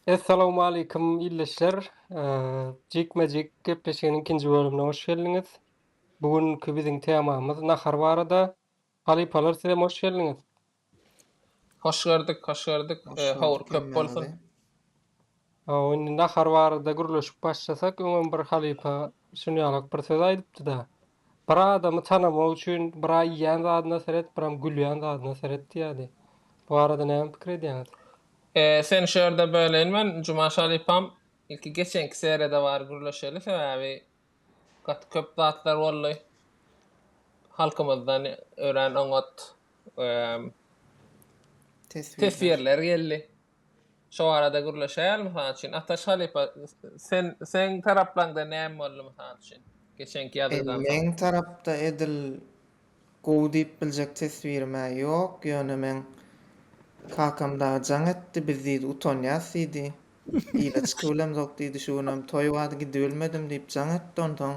Essalawmalikim ildeşler! Jikme jik gepleşiginiň ikinji bölümine hoş geldiňiz. Bu günki biziň temamyz nahar barada. Halypalar sizem hoş geldiňiz. Hoş gördük, hoş gördük. Howur köp bolsun. Hawa, indi nahar barada gürleşip başlasak, öňem bir halypa şuny ýalak bir söz aýdypdy-da, Bir adamy tanamak üçin bir-ä iýýän zadyna seret, birem gülýän zadyna seret diýýärdi. Bu barada näme pikir edýäňiz? Seni şu ýerde böleýin men, Jumaş halypam. Ilki geçenki seriýada bary gürleşeli, sebäbi gaty köp zatlar boldy. Halkymyzdan örän oňat teswirler geldi. Şo barada gürleşäýeli, mysal üçin, Ataş halypa, sen, seň taraplaňda näme boldy, mysal üçin, geçenki ýazgydan soň? Meň tarapda edil gowy diýip biljek teswirim-ä ýok, ýöne meň kakam dagy jaň etdi, biz diýdi utanýas diýdi, ile çykybilemzok diýdi, şu günem toý bardy gidibilmedim diýip jaň etdi, onsoň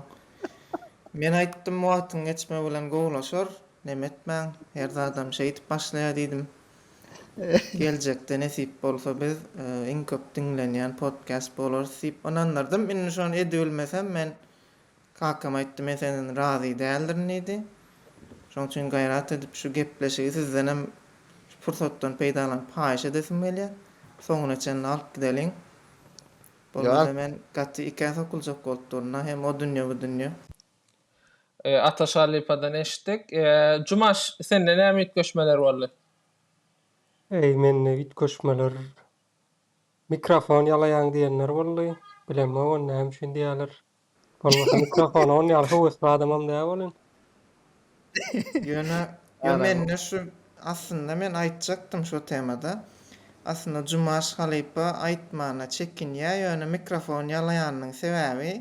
men aýtdym wagtyň geçmegi bilen gowulaşar, näme etmäň, her zadam şeýdip başlaýar diýdim. Geljekde nesip bolsa biz iň köp diňlenýän podcast bolarys diýip ynandyrdym. Indi şony edibilmesem men kakama aýtdym men senden razy däldirin diýdi. Şoň üçin gaýrat edip şu gepleşigi sizdenem şu pursatdan peýdalanyp haýyş edesim gelýär. Soňuna çenli alyp gideliň. Bolmasa men gaty ikä sokuljak bolup duryn-a hem o dünýe bu dünýe. Ata Şalypadan eşitdik. Jumaş, sende näme üýtgeşmeler boldy? Eý, mende üýtgeşmeler, mikrofon ýalaýaň diýenler boldy. Bilemok ony näme üçin diýýärler. Bolmasa mikrofona ony ýaly höwesli adamam däl welin. Ýöne ýo mende şu aslynda men aýtjakdym şo temada. Aslynda Jumaş halypa aýtmana çekinýä ýöne mikrofon ýalaýanynyň sebäbi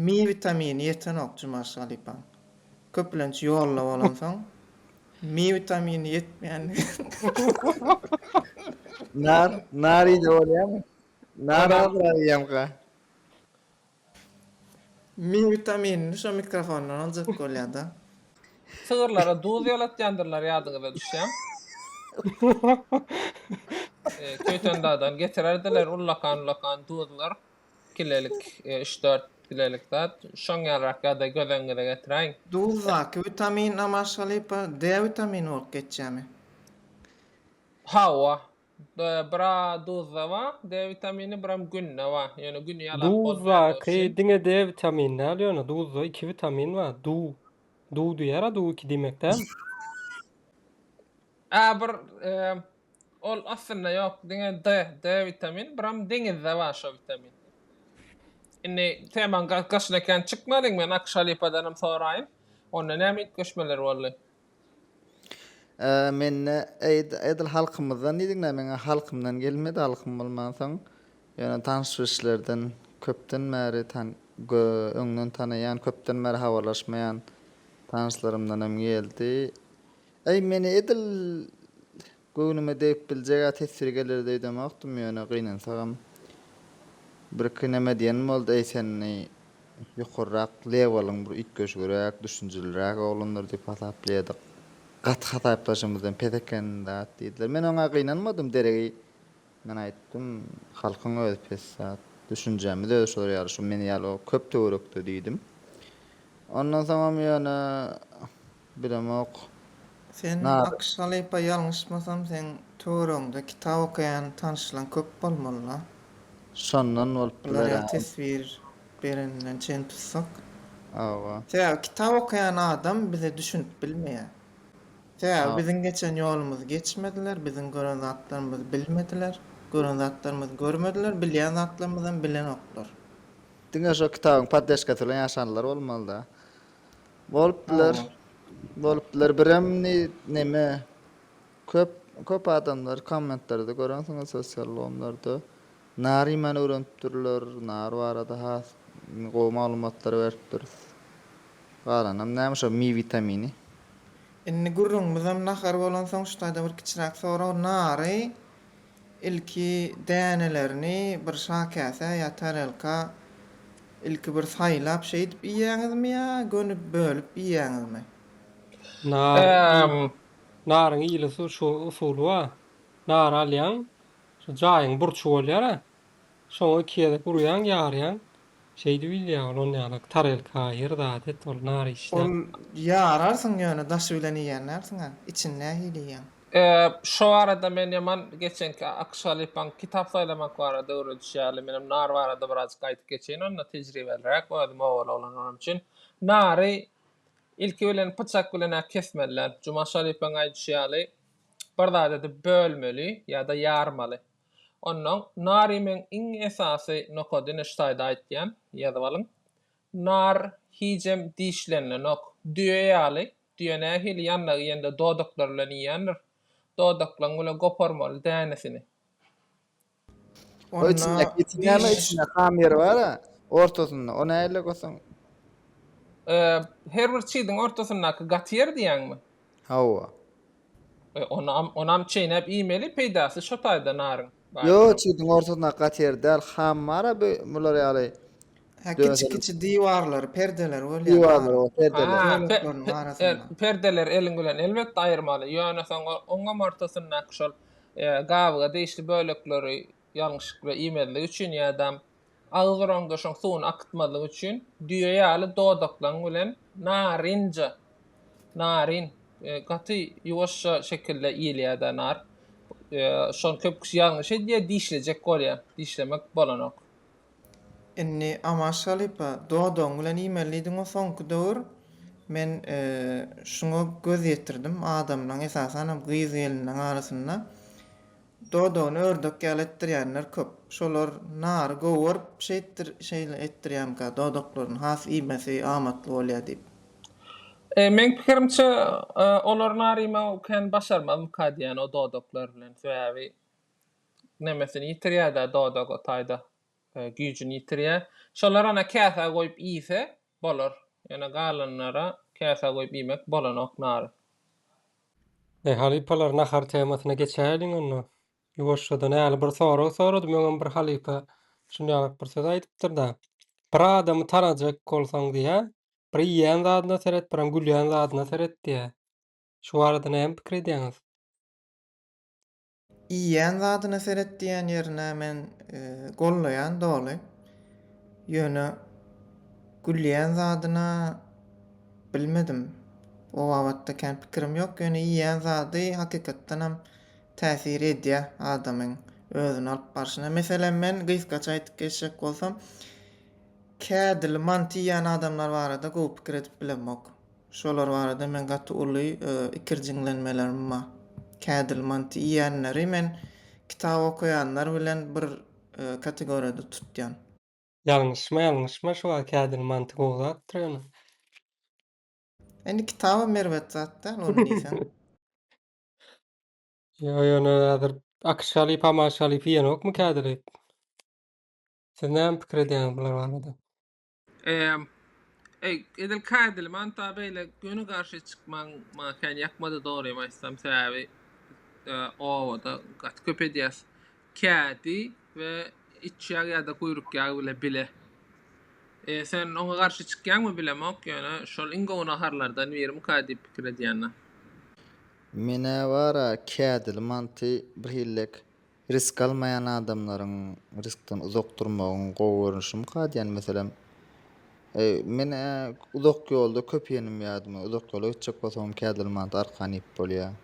mi witamini ýetenok Jumaş halypaň. Köplenç ýolda bolansoň mi witamini ýetmeýänligi. Nar nar iýde bolýamy? Nar azrak iýemka. Min witaminini şo mikrofondan aljak bolýada. Sygyrlara duz ýalatýandyrlar ýadyňyza düşýä. Köýtendagdan getirerdiler ullakan-ullakan duzlar. Kilelik, üç-dört kilelik zat. Şoň ýalyrak ýagdaý göz öňüňize getiräýiň. Duzdaky witamin, Namazşalypa, D witamini bolup geçýämi? Hawa, Bra duzda bar, D witamini, biram günde bar. Ýöne gün ýalap bolmaýar görşi. Duzdaky diňe D witamini däl ýöne duzda iki witamin bar. Du. Du diýýärä du iki diýmek däl. Ä bir ol aslynda ýok diňe D, D witamin, biram deňizde bar şo witamin. Indi temaň gaşyna kän çykmalyň men Akşa halypadanam soraýyn. Onda näme üýtgeşmeler boldy? Mende edil halkymyzdan diýdiňler meň halkymdan gelmedi halkym bolmansoň ýöne tanyş bilişlerden köpden bäri öňden tanaýan köpden bäri habarlaşmaýan tanyşlarymdanam geldi. Eý meni edil Göwnüme degip biljeg-ä teswir geler öýdemokdym, ýöne gynansagam, birki näme diýenim boldy, Eý, sen eý, ýokarrak lewalyň bir üýtgeşigräk, düşünjeliräk oglandyr diýip hasaplaýardyk. Gaty hasaplaşymyzdan pes eken, dat, diýdiler. Men oňa gynanmadym, deregi. Men aýtdym, Halkyň özi pes zat. Düşünjämiz özi şular ýaly, şu men ýaly o köp töwerekde diýdim. Ondan soňam ýöne bilemok. Sen Akyş halypa ýalňyşmasam seň töweregiňde kitap okaýan tanyşlaň köp bolmaly-la. Şondan bolup biler. Bular ýaly teswir bereninden çen tutsak. Hawa. Sebäbi kitap okaýan adam bize düşünip bilmeýär. Sebäbi biziň geçen ýolumyzy geçmediler, biziň gören zatlarymyzy bilmediler, gören zatlarymyzy görmediler, bilýän zatlarymyzam bilenoklar. Diňe şo kitabyň poddeşkasy bilen ýaşanlar bolmalyda. Bolup biler. Bolup biler. Birem neme köp köp adamlar kommentlerde görensiňiz sosial ulgamlarda Nary iýmäni öwrenipdirler, nar barada has gowy maglumatlary beripdiris. Galanam näme şo mi witamini. Indi gürrüňimizem nahar bolansoň şu taýda bir kiçiräk sorag, nary ilki dänelerini bir şakäsä ýa tarelka ilki bir saýlap şeýdip iýýäňizmi ýa göni bölüp iýýäňizmi? Nar, naryň ýylysu şu usuly bar, nary alýaň, Şu jaýyň burçy bolýar-a. Şoňa iki gezek urýaň, ýarýaň. Şeýdip ilýär ol on ýalak tarelka, her zat et ol nar işläp. Ol ýararsyň ýöne daşy bilen iýen dälsiň-ä. Içini nähili iýýäň? Şo barada men ýaman geçenki Akşalypaň kitap saýlamak barada öwredişýärli. Menem nar barada birazjyk aýdyp geçeýin onda tejribeliräk özüm owaly oglan bolanum üçin. Nary ilki bilen pyçak bilen-ä kesmeli däl. Jumaş halypaň aýdyşy ýaly bir zat edip bölmeli ýa-da ýarmaly. Onnoň nary meň iň esasy nokady neştaýda aýtýan, ýazyp alyň. Nar hijem dişlenenok. Düýe ýaly, düýe nähili ýanlag iýende dodaklary bilen iýendir, dodaklaň bilen goparmaly dänesini. Onda diş. Her bir çiziň ortasyndaky gaty ýer diýýäňmi? Hawa. E, onam, onam çeýnäp iýmeli, peýdasy şo taýda naryň. Ýok, çiziň ortasyndaky gaty ýer däl, ham bar-a bu, bular ýaly. Hä, kiçi-kiçi diwarlary, perdeleri bolýar. Diwarlary, perdeleri. Perdeleri eliň bilen elbetde aýyrmaly, ýöne soň oňam ortasyndaky şol Gabyga degişli bölekleri ýalňyşykly iýmezlik üçin ýa-da agzuraňdaşyň suwuny akytmazlyk üçin düýe ýaly dodaklaň bilen narynja, naryn, gaty ýuwaşja şekilde iýilýär-de nar. Şony köp kişi ýalňyş edýär, dişlejek bolýar. Dişlemek bolanok. Indi Amaş halypa, dodagyň bilen iýmelidiň-o soňky döwür. Men şuňa göz ýetirdim, adamlaň, esasanam gyz-gelinleň arasynda dodagyny ördek ýaly etdirýänler köp. Şolar nary gowy görüp şeýtdir, şeýle etdirýänka, dodaklaryny has iýmesi amatly bolýar diýip. Meň pikirimçe, olar nar iýmegi kän başarmazmyka diýýän o dodaklar bilen. Sebäbi nemesini ýitirýär-de, dodagy taýda güýjüni ýitirýär. Şolar ana käsä goýup iýse, bolar. Ýöne galanlara käsä goýup iýmek bolanok nary. Eý, halypalar, nahar temasyna geçäýeliň onda. Ýuwaşjadan häli bir sorag soradym, öňem bir halypa şunýalyk bir söz aýdypdyr-da, Bir adamy tanajak bolsaň diýýä, bir iýýän zadyna seret, birem gülýän zadyna seret diýýä. Şu barada näme pikir edýäňiz? Iýýän zadyna seret diýýän ýerine men gollaýan doly. Ýöne gülýän zadyna bilmedim. O babatda kän pikirim ýok, ýöne iýýän zady hakykatdan hem täsir edýär adamyň özüni alyp barşyna. Meselem men gysgaça aýdyp geçjek bolsam, kädili manty iýýän adamlar barada gowy pikir edip bilemok. Şolar barada men gaty uly ikirjiňlenmelerim bar. Kädil manty iýenleri men kitap okaýanlar bilen bir kategoriýada tutýan. Ýalňyşma ýalňyşma şu wagt kädil manty gowy zatdyr ýöne. Indi kitabam erbet zat däl ony diýseň. Ýok ýöne häzir akyşaly pamaşaly iýenokmy kädili? Siz näme pikir edýäňiz bular barada? Emm, eý, edil kädili manta beýle göni garşy çykmaň maňa kän ýakmady dogrymy aýtsam, sebäbi obada gaty köp edýäs. Kädi we iç ýag ýa-da guýruk ýagy bile bile. E, sen oňa garşy çykýaňmy bilemok, ýöne şol iň gowy naharlardan birimika diýip pikir edýänna. Men-ä bar-a kädili manty birhillek Risk almaýan adamlaryň riskden uzak durmagyň gowy görnüşimika diýen meselem, men uzak ýolda köp ýenim ýadymy, uzak ýola gitjek bolsagam kädil mant arkan iýip bolýar.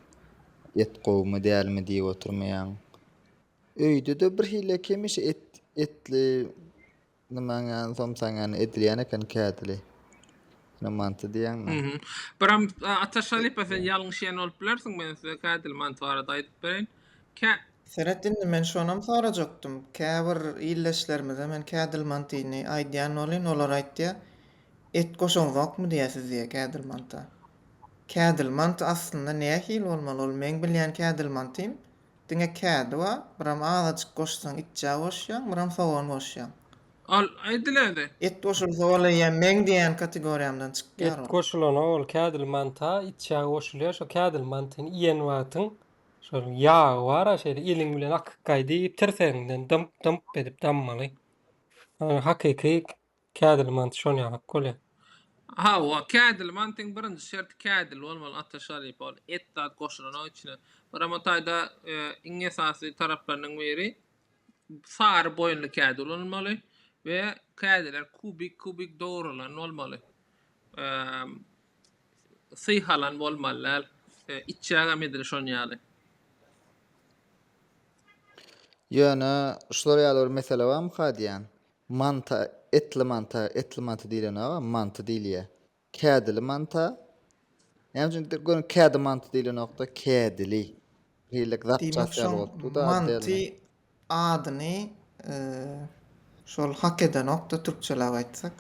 Et gowumy, dälmi diýip oturmaýaň. Öýde-de birhili hemişe et, etli Namaňan somsaňan edilýän eken kädili. Ine manty diýýäňmi? Mhm. Biram Ataş halypa sen ýalňyş iýen bolup bilersiň men size kädili manty barada aýdyp bereýin. Kä. Seret indi men şonam sorajakdym. Käbir ildeşlerimize men kädil mantyny aýdýan bolýn olar aýtýa et goşaňzokmy diýýä siz diýýä kädil manta. Kädil manty aslynda nähili bolmaly ol meň bilýän kädil mantym Diňe kädi bar. Buram azajyk goşsaň itjä goşýaň, buram sogan goşýaň. Al, aýdyläde. Et goşulsa ol eýýäm meň diýýän kategoriýamdan çykýar Et ol. goşulana ol kädili manta, itjä goşulýar. Şo kädili mantyny iýen wagtyň şol ýagy bar-a şeýle eliň bilen akyk gaý diýip tirsegiňden dymp-dymp edip dammaly. Hakyky Kädil mant şol ýalak bolýa. Hawa kädil mantyň birinji şerti kädil bolmaly ata şalypa ol et zat goşulanok içine. Gurama taýda iň esasy taraplarynyň biri sary boýunly kädi ulanylmaly we kädiler kubik kubik dogrulan bolmaly. Syhalan bolmaly däl. Içjägem edil şon ýaly. Ýöne şular ýaly bir mesele barmyka diýýän. Manta, etli manta, etli manty diýlenok-a, manty diýilýä. Kädili manta, näme üçin indi göni kädi manty diýlenok-da, kädili. Hillek zapças ýaly bolup dur-da, addy ýaly. Diýmek, şoň manty adyny şol hak edenok-da, türkçeläp aýtsak.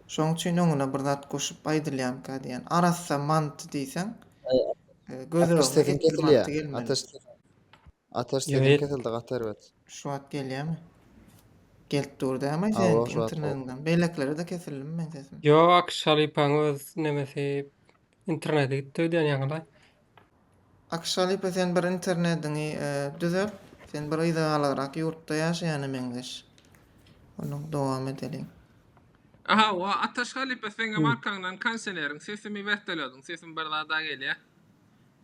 Şoň üçin öňüne bir zat goşup aýdylýanka diýýän. Arassa manty diýseň, göz öňüne etli manty gelmeli. Ateş Ýöne- sesiň kesildi gaty erbet. Şu wagt gelýärmi? Gelip dur dämi Awa, seň şu wagt internetiňden? Beýlekilere-de kesildimi meň sesim? Ýok, Şalypaň öz nemesi interneti gitdi öýdýän ýaňylaý. Akyş halypa sen bir internetiňi e, düzelt. Sen bir yzagalarak ýurtda ýaşaýana meňzeş. Onuň dowam edeliň. Aha, wa Ataş halypa seňem arkaňdan kanseleriň sesimi wätelediň, sesim bir zada gelýä.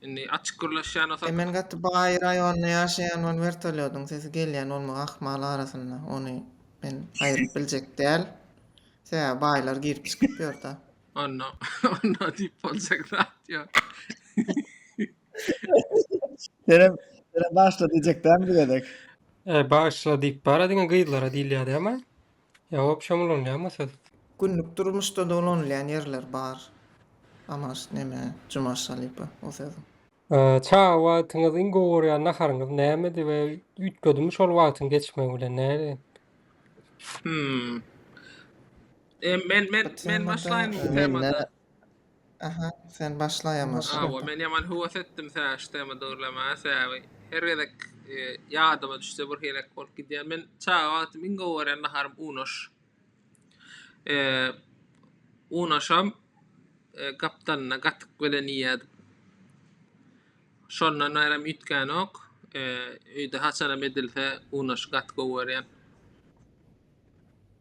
Indi açyk gürleşýän bolsa. Men gaty baý raýonda ýaşaýan ol wertolýodyň sesi gelýän bolmagy ahmal arasynda ony men aýyryp biljek däl sebäbi baýlar girip çykyp ýörda. Onda onda diýip boljak zat ýok. Senem senem bagyşla diýjek däl bu gezek. Bagyşla diýip bara diňe gyzlara diýilýärdi ema. Ýaňy opşam ulanýarmy siz? Günlük durmuşda dolanylýan ýerler bar. Amaş neme cumaşalypa o sözüň. Çaga wagtyňyz iň gowy görýän naharyňyz nämedi we üýtgedimi şol wagtyň geçmegi bilen näle? Hmmm. Men men men başlaýyn bu temada. Aha sen başla ýamaş. Hawa men ýaman höwes etdim täş tema dörlemaga sebäbi her gezek e, ýadyma düşse bir helek bolup gidýär. Men çaga wagtym iň gowy gören naharym unaş. E, unaşam e, gapdanyna gatyk bilen iýerdim. Şondan bärem üýtgänok. E, öýde haçanam edilse unaşy gaty gowy görýän.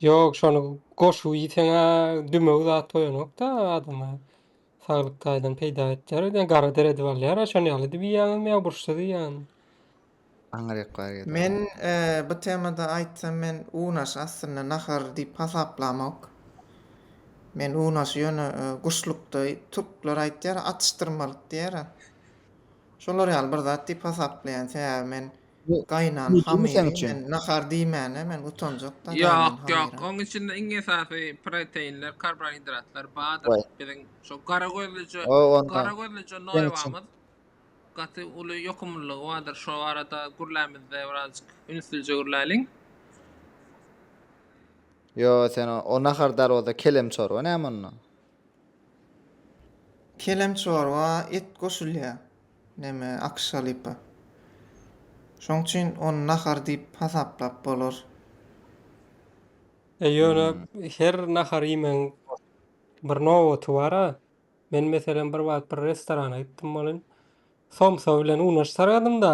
Ýok şony goşup iýseňä dümew zat goýanokda adama saglyk taýdan peýda etýär öýdýän gara deredi alýara şony ýaly edip iýýäňizmi ýa burçsyz iýýäňizmi? Aňryk bar ýa-da. Men bu temada aýtsam men unaş aslynda nahar diýip hasaplamok. Men unaşy ýöne guşlukda türkler aýtýara atyşdyrmalyk diýýara. Şolar ýaly bir zat diýip hasaplaýan sebäbi men Bu Gaýynan Jujumy sen hamyry üçin? men nahar diýmäne men utanjakda gaýynan Ýok, ýok. hamyra. Oň içinde iň esasy proteinler, karbohidratlar, badyr. Waý. Biziň şu gara gözlüje, O onda gara gözlüje sen üçin. noýabamyz gaty uly ýokumlylygy bardyr. Şo barada gürlämizde birazjyk ünslice gürläliň. Ýo sen o, o nahar dal bolsa kelem çorba näme onda? Kelem çorba et goşulýa. Neme, akyş halypa. Şoň üçin ony nahar diýip hasaplap bolar. E, ýöne her nahar iýmegiň bir nobaty bar-a. Men, meselem, bir wagt bir restorana gitdim welin, somsa bilen unaş saradym-da,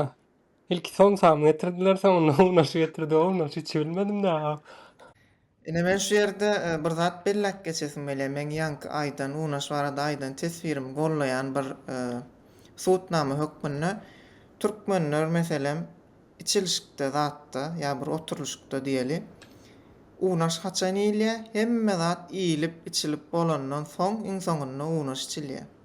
Ilki somsamy getirdiler, soňundan unaşy getirdiler. Unaş içi bilmedim dagy. Ine men şu ýerde bir zat belläp geçesim gelýär. Meň ýaňky aýdan, unaş barada aýdan teswirimi goldaýan bir subutnama hökmünde türkmenler meselem içilişikde zatda ýa bir oturylyşykda diýeli, unaş haçan iýilýär? Hemme zat iýilip, içilip bolandan soň iň soňunda unaş içilýär.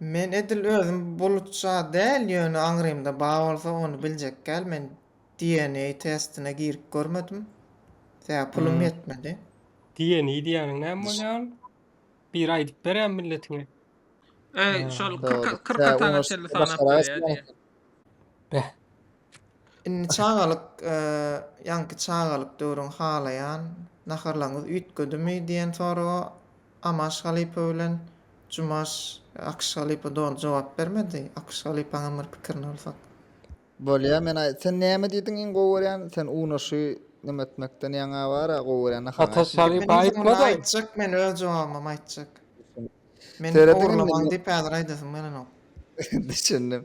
Men edil özüm bulutja däl ýöne aňrymda bar bolsa ony biljekgäl men DNA testine girip görmedim sebäbi pulum ýetmedi. DNA diýýäniň näme bolýar ol? Biri aýdyp berýär milletiňe. Şol kyrk kyrk atana çenli sanap berýär diýýär. Beh. Indi çagalyk ýaňky çagalyk döwrüňi halaýan, naharlaryňyz üýtgedimi diýen soraga Amaş halypa bilen Jumaş Akyş halypa doly jogap bermedi. Akyş halypaňam bir pikirini alsak. Bolýa men aý sen näme diýdiň iň gowy görýän sen unaşy neme etmekden ýaňa bara gowy görýän naharyňy aýt diýdiň. Ataş halypa aýtmady. Aýtjak men öz jogabymam aýtjak. Men Serediň indi ogurlamaň diýip häzir aýdasym gelenok. Düşündim.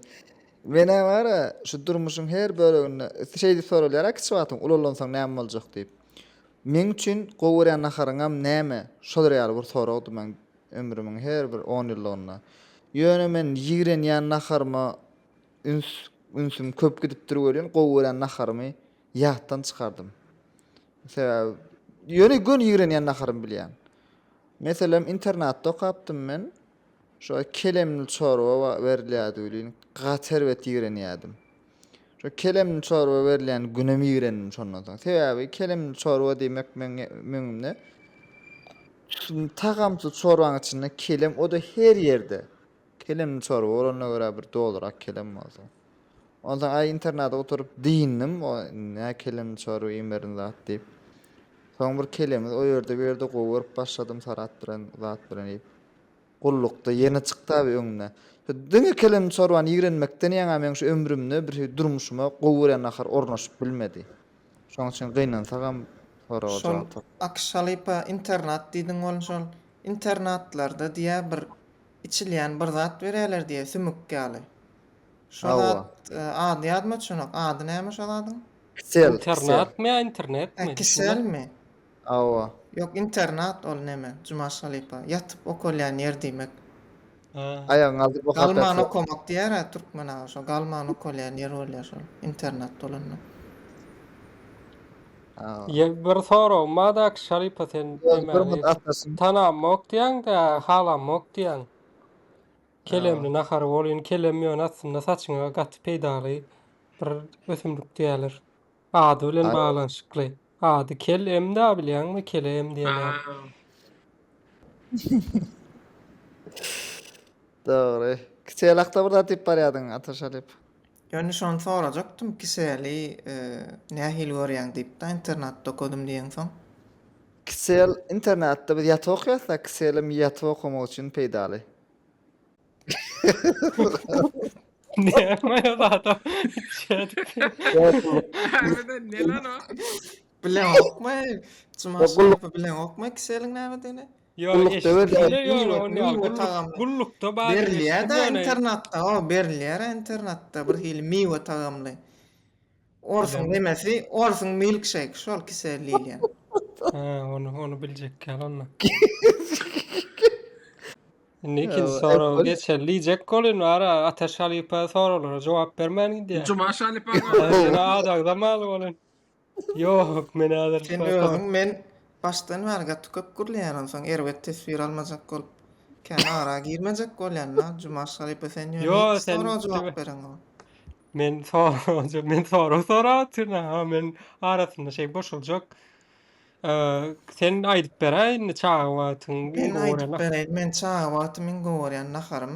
Menä gara, şu durmuşyň her böleginde şeýdip soralýar-a kiçi wagtyň ulallansaň näme boljak diýip. Meň üçin gowy görýän naharyňam näme? Şolar ýaly bir soragdy meň ömrümiň her bir on ýyllygynda. Ýöne men ýigrenýän naharyma üns ünsüm köp gidipdir welin, gowy görýän naharymy ýatdan çykardym. Sebäbi ýöne göni ýigrenýän naharymy bilýän. Meselem internatda okapdym men. Şo kelemli çorba berilýärdi welin, gaty erbet ýigrenýärdim. Şo kelemli çorba berilýän günem ýigrendim şondan soň. Sebäbi kelemli çorba diýmek meň öňümde tagamsyz çorbaň içinde kelem, o-da her ýerde. Kelemli çorba bolanyna görä bir dolurak kelem bolsun. Onsoň aý internada oturyp dynnym, o nä kelem çorba iň berin zat diýip. Soň bir kelemiz o ýerde bu ýerde gowy görüp başladym Sarat bilen zat bilen iýip. Gullukda ýene çykdy abi öňüne. Diňe kelem çorbany ýigrenmekden ýaňa meň şu ömrümde bir durmuşyma gowy görýän nahar ornaşyp bilmedi. Şoň üçin gynansagam soraga Şol jogap tap. Akyş halypa internat diýdiň ol şol internatlarda diýä bir içilýän bir zat berýäler diýä sümük ýaly. Şazat ady ýadyma düşenok. Ady näme Şazadyň? Kisel. Internatmy ýa internetmi? Hä, kiselmi? Hawa. Ýok, internat ol neme, Jumaş halypa. Ýatyp okalýan ýer diýmek. Aýagyňy aldyp oka. Galman okamak diýer-ä türkmen aga şo. Galman okalýan ýer bolýar şol. Internat bolanda. Ýa bir soragym bar-da Akşy halypa sen näme? Tanamok diýýäň-dä, halamok diýýäň. Kelemli nahar bolyn kelem ýöne aslynda saçyňa gaty peýdaly bir ösümlik diýerler. Ady bilen baglanyşykly. Ady kel em da bilýäňmi kele em diýenýär. Dogry. Kiçi elakda bir zat diýip barýadyň Ataşalyp. Ýöne şony sorajakdym kiseli nähili görýäň diýipdä internatda okadym diýeňsoň. Kisel internatda biz ýat okaýasda kiselem ýatyp okamak üçin peýdaly. Näme adam Bileňokmy? Jumaşyrowy bileňokmy kiseliň nämedigini? Gulluk döwür däl diýip otyryn. Gullukda bar diýip eşitdim ýöne. Internatda hawa berilýär internatda bir hili miwe tagamly. Orsuň nemesi orsuň milkşeýki şol kisel diýilýän. Hä ony ony biljekkäl onda. Indi ikinji soraga geçeli diýjek welin ara Ataş halypa soraglara jogap bermän gidýär. Jumaş halypa. Ýöne adagda maly welin. Ýok, men häzir Sen şo- özüň men başdan bäri gaty köp gürleýän onsoň erbet teswir almajak bolup kän ara girmejek bolýan da Jumaş halypa sen ýöne Ýo, hiç sen soraga jogap dibe- bereňok. Men sorag men sorag sorap otyryn ha men arasynda şey boşuljak. Eee, Sen aýdyp beräý indi çaga wagtyň Men aýdyp bereýin men çaga wagty men gowurýan naharym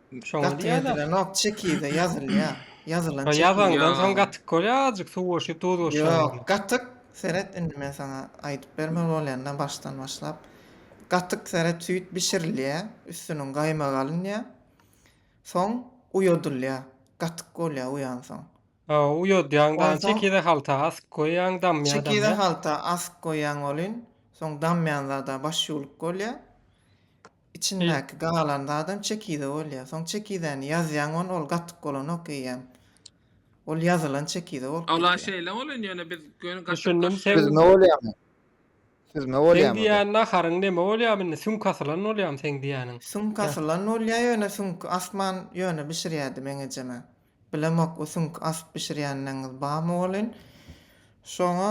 Şoňa Gaty diýýärler. ýedilenok, çekirde ýazylýar. Ýazylan Şo çekirde. ýazandan soň Ýa. gatyk bolýar, azjyk suw goşup, duz goşýar Ýok, ýazyna. gatyk, seret, indi men saňa aýdyp bermeli bolýan-da başdan başlap. Gatyk, seret, süýt bişirilýär, üstüniň gaýmagy alynýar. Soň uýadylýar. Gatyk bolýar uýansoň. Hawa, uýadýaň daň, Onsoň- çekirde halta asyp goýýaň, damýar, Çekirde damýar. halta asyp goýýaň welin, soň damýan zada baş ýuwluk bolýar. Içindäki galan zadam çekize bolýar. Soň çekizäni ýazýaň ony ol gatyk bolanok eýýäm. Ol ýazylan çekize bolup gidýär. Ala şeýle bolan ýöne biz göni gatyk Düşündim seň Süzme bolýamy? Süzme Seň bolýamy bu? diýýän naharyň neme bolýamy indi süňk asylan bolýamy seň diýýäniň? Süňk asylan bolýar ýöne süňki asman ýöne bişirýärdi meň ejeme. Bilemok o süňki asyp bişirýänleňňiz barmy welin. Şoňa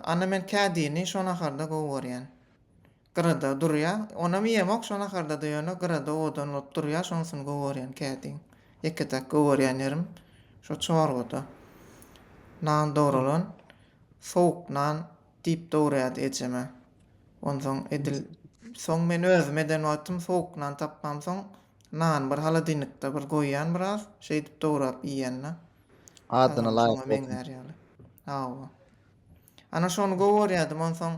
ana men kädini şo naharda gowy görýän. Gyrada durýa. Onam iýemok şo naharda-da ýöne gyrada owadan bolup durýa, şonusyny gowarýan kä diýiň. Ýeke-täk gowarýan ýerim şo çorbada. Nan dogrulan, sowuk nan diýip dogurýardy ejem-ä. Onsoň edil soň men özüm eden wagtym sowuk nan tapmamsoň, nany bir holodilnikde bir goýýan biraz, şeýdip dograp iýýän-dä. Adyna laýyk bolsun. Hawa. Ana şony gowy görýädim, onsoň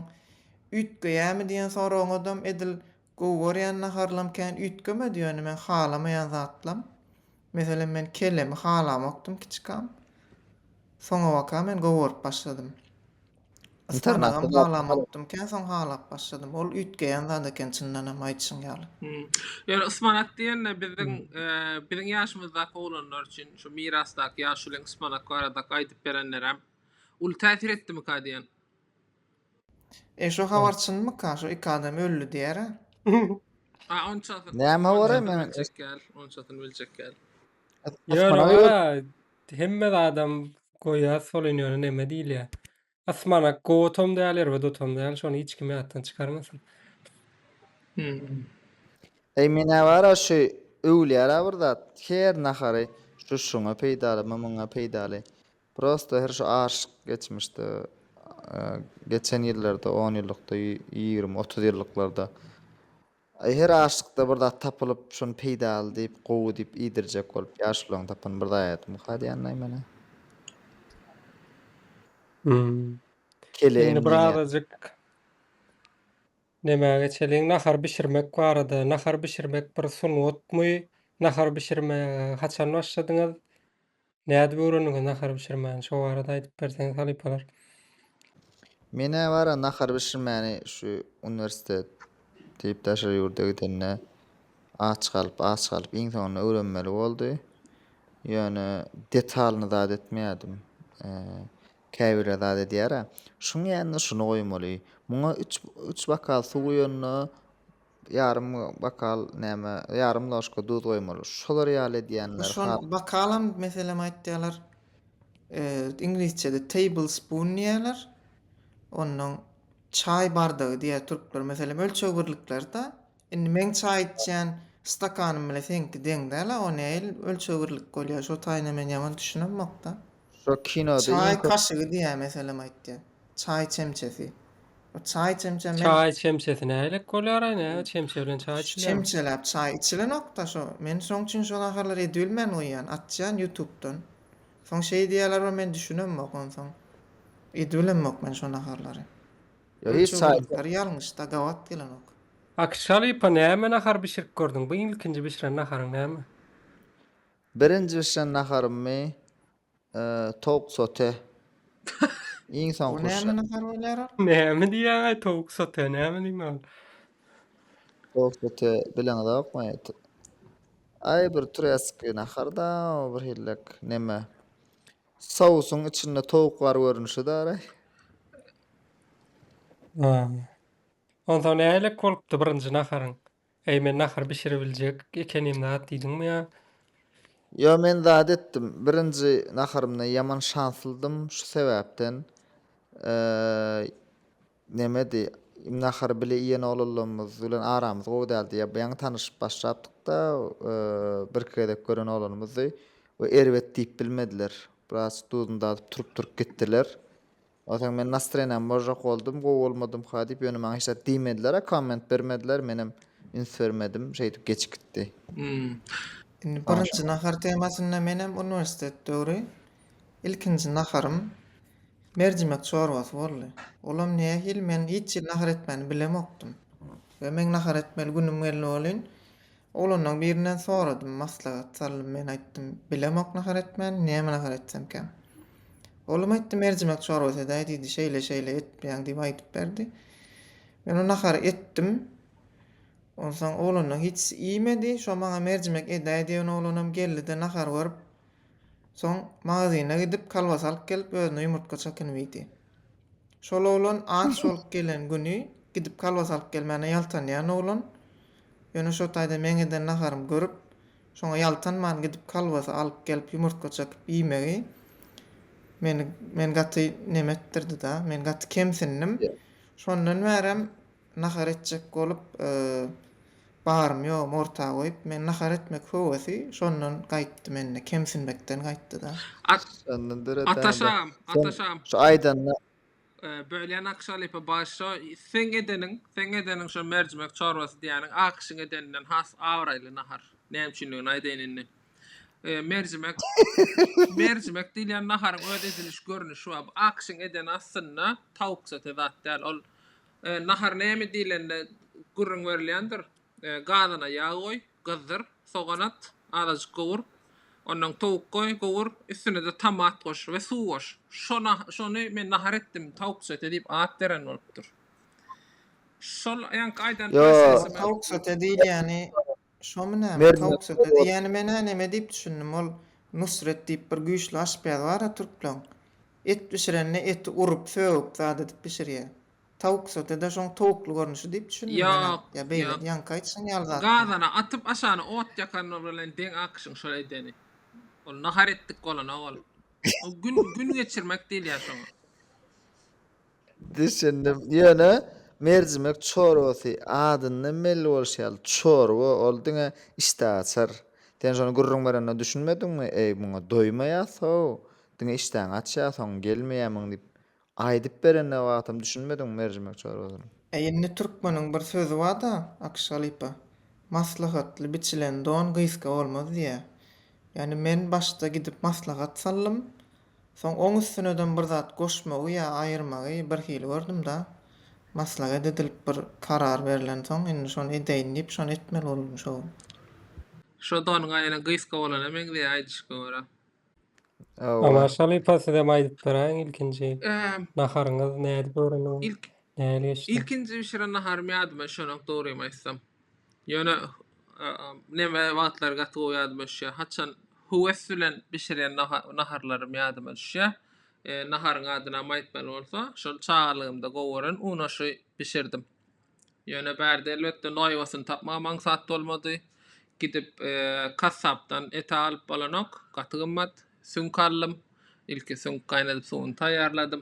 üýtgeýämi diýen soragyňyzam edil gowy görýän naharylam kän üýtgemedi, ýöne men halamaýan zatlam, meselem men kellemi halamokdym kiçikam, soňabaka men gowy görüp başladym. Yspanagam halamokdym kän, soň halap başladym. Ol üýtgeýän zat eken çyndanam aýdyşyň ýaly. Ýöne yspanak diýende biziň biziň ýaşymyzdaky oglanlar üçin şu mirasdaky ýaşulyň yspanak barada aýdyp berenlerem Uly täsir etdimika diýen. E şo habar çynmyka şo iki adam öldi diýara. A onçasyn. Näme habar men biljek däl onçasyn biljek däl. Ýöne gara hemme zadam goýa solin ýöne neme diýilýä. Asmanak gowatam däl erbedotam däl şony hiç kim ýatdan çykarmasyn. Eý menä bara şu öwülýärä bir zat her nahary şu şuňa peýdalymy muňa peýdaly. Prosta her şu aşyk geçmişde geçen ýyllarda on ýyllykda ýigrimi otuz ýyllyklarda her aşykda bir zat tapylyp şony peýdaly diýip gowy diýip iýdirjek bolup ýaşularyň tapan bir zaýadymyka diýýänlaý menä. Indi bir azajyk nämä geçeliň nahar bişirmek barada nahar bişirmek bir sungatmy nahar bişirmäge haçan başladyňyz Nädip öwrendiňiz nahar bişirmäni şo barada aýdyp berseňiz halypalar. Menä bara nahar bişirmäni şu uniwersitet diýip daşary ýurda gidende aç galyp aç galyp iň soňunda öwrenmeli boldy. Ýöne detalyny zat etmeýärdim. Käbirler zat edýärä. Şuň ýanynda şuny goýmaly. Muňa üç üç bokal suw guýanyna ýarym bokal näme, ýarym ložka duz goýmaly. Şolar ýaly edýänler Şol has. bokalam meselem aýtýarlar. E, iňlisçede tablespoon diýýärler. Ondan çaý bardagy diýýär türkler. Meselem ölçeg birlikleri-de. Indi meň çaý içýän stakanym bilen seňki deň däl-a, o nähili ölçeg birlik bolýar? Şo taýyna men ýaman düşünemok-da. Şu kinoda iň Çaý köp kaşygy diýýär meselem aýtýar. Çaý çemçesi. O çaý çemçe men Çaý çemçesi nähilek bolýar-aý, näme çemçe bilen çaý Şu içilýär? çemçeläp çaý içilenok-da şo. Men şoň üçin şol ahalary edibilmän goýýan, atýan ýutupdan. Soň şeý diýýärler we men düşünemok onsoň. Edibilemmok men şo naharlary. Ýa hiç Ölçeg çaý ýörüklari ýalňyş-da, gabat gelenok. Akshalypa näme nahar bişirip gördüň? Bu ilkinji bişiren naharyň näme? Birinji bişen naharymy towuk sote. Iň soňky Bu näme nahar bolýar? Näme diýýäňaý towuk sote näme diýmek ol. Towuk sote bileňizokmy? Aý bir türeski naharda bir hillek neme. Sousuň içinde towuk bar görnüşi dara. Onsoň nähilek bolupdy birinji naharyň? Eý men nahar bişiribiljek ekenim zat diýdiňmi ýa. Ýo men zat etdim birinji naharymda ýaman şanslydym şu sebäpden nemedi nahary bile iýen oglanlarymyz bilen aramyz gowy däldi ýa ýaňy tanyşyp başlapdykda birki gezek gören oglanymyzdy we erbet diýip bilmediler biraz duzuny dadyp turup turup gitdiler Onsoň men nastroýeniýam bozjak boldum, gowy bolmadymka diýip, ýöne maňa hiç zat diýmediler-ä, komment bermediler, menem üns bermedim, şeýdip geçip gitdi. Indi birinji nahar temasynda menem uniwersitet döwri ilkinji naharym merjimek çorbasy boldy. Olam nähili, men hiç hili nahar etmäni bilemokdym we meň nahar etmeli günüm geldi welin, Oglanlaň birinden soradym, maslahat salnym men aýtdym, bilemok nahar etmäni, näme nahar etsemkäm? Oglum aýtdy, merjimek çorbasy edäý diýdi, şeýle şeýle etipýäň diýip aýdyp berdi. Men o nahary etdim. Onsoň oglanlaň hiç iýmedi, şo maňa merjimek edäý diýen oglanam geldi-de nahar görüp, soň magazyna gidip kolbasa alyp gelip özüne ýumurtga çakynyp iýdi. Şol oglan aç bolup gelen güni gidip kolbasa alyp gelmäne ýaltanýan oglan. Ýöne şo taýda meň eden naharymy görüp, şoňa ýaltanman gidip kolbasa alyp gelip ýumurtga çekyp iýmegi meni men gaty neme etdirdi-da, men gaty kemsindim. Şondan bärem nahar etjek bolup barym-ýogum orta goýup, men nahar etmek höwesi şondan gaýtdy mende, kemsinmekden gaýtdy-da. Ataşam, ataşam. Şu aýdanyna. Bölýän Akşalypa başda, seň edeniň, seň edeniň şo merjimek çorbasy diýýäniň Akyşyň edeninden has abraýly nahar. Näme üçindigini aýdaýyn indi. Merjimek, merjimek diýilýän naharyň öz ediliş görnüşi bar. Bu Akyşyň edeni aslynda tawuksote zat däl. Ol Nahar näme diýlende gürrüň berilýändir, gazyna ýag goý, gyzdyr, sogan at, azajyk gowur, ondan towuk goý, gowur, üstüne-de tomat goş we suw goş. Şony men nahar etdim, tawuk söte diýip at beren bolupdyr. Şol ýaňky aýdan press resepti. Ýok, tawuk söte diýilýäni. Şomy näme, tawuk söte diýýäni men-ä neme diýip düşündim, ol Nusret diýip bir güýçli aşpez bar-a türkleň. Et bişirende eti urup, sögüp zat edip bişirýä. Tawuk söte-de şoň towukly görnüşi diýip düşündim men-ä. Ýok, Ýa beýledi, ýok. ýaňky aýtşyň ýaly zatmy? Gazana atyp, aşagyna ot ýakanlar bilen deň akyşyň şol edeni. Ol nahar etdik bolanok ol. Ol gün, gün geçirmek diýilýär şoňa. Düşündim. Ýöne merjimek çorbasy adyndan belli bolşy ýaly çorba, ol diňe işdä açar. Sen şony gürrüň berende düşünmediňmi, eý, muňa doýmaýas-how, diňe işdäňi açýar, soň gelmeýärmiň diýip, aýdyp berende wagtam düşünmediňmi merjimek çorbasyny? Äý, indi türkmeniň bir sözi bar-da, Akyş halypa, Maslahatly biçilen don gysga bolmaz diýýär. Ýagny men başda gidip maslahat saldym, Soň oň üstünedem bir zat goşmagy ýa aýyrmagy bir hili gördüm-da, maslaget edilip bir karar berlensoň, indi şony edeýin diýip, şony etmeli boldum şo gün. Şo don gaýra gysga bolana meňzeýär aýdyşyňa görä. Aman halypa sizem aýdyp beräýiň ilkinji naharyňyz nädip öwreniň? Nähili geçdi? Ilkinji bişiren naharym ýadyma düşenok dogrymy aýtsam. Ýöne neme wagtlary gaty gowy ýadyma düşýär. Haçan höwes bilen bişirýän naharlarym ýadyma düşýär. Naharyň adynam aýtmaly bolsa, şol çagalygymda gowy gören unaşy bişirdim. Ýöne bärde elbetde noýabasyny tapmaga maňsat bolmady. Gidip kassapdan ete alyp bolanok, gaty gymmat. Süňk aldym. Ilki süňk gaýnadyp suwuny taýýarladym.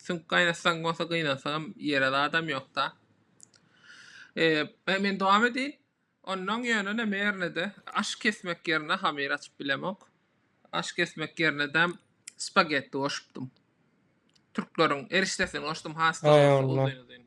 Süňk gaýnatsaň bolsa gynansagam ýere zadam ýokda. Eee men dowam edeýin. Onnoň ýöne näme ýernede aş kesmek ýerine hamyr açyp bilemok. Aş kesmek ýernedem spagetti goşupdym. Türkleriň erişdesini goşdum has Aý dogrusy Allah. uzyn uzyn.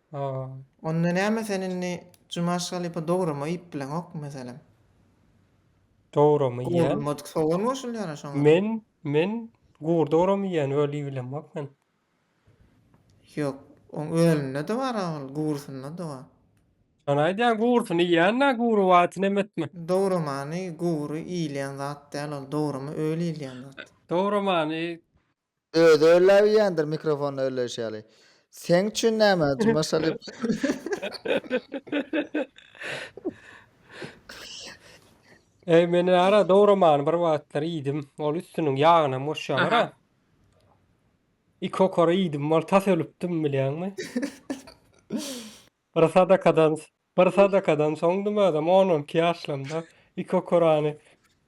Haa. Onda näme sen indi Jumaş halypa dograma iýip bileňokmy meselem? Dograma iýýän. Gowrulmadyk sogan goşulýara şoňa. Men, men gury dograma iýýän öl iýip bilemok men. Ýok, oň ölünde-de bar-a ol, gurusynda-da bar. Şony aýdýan gurusyny iýýän-dä gury wagty neme etmek. Dogramany gury iýilýän zat däl ol, dograma öl iýilýän zat. Dogramany Özi örläp iýendir mikrofonda örleýşi ýaly. Seň üçin näme Jumaş Alyýew? Eý men ara dogramany bir wagtlar iýdim. Ol üstüniň ýagynam goşýarlar-a. Aha. Iki okara iýdim, ol tas ölüpdim bilýäňmi? Bir sadakadan Bir sadakadan soňdym özem on on iki ýaşlamda iki okurany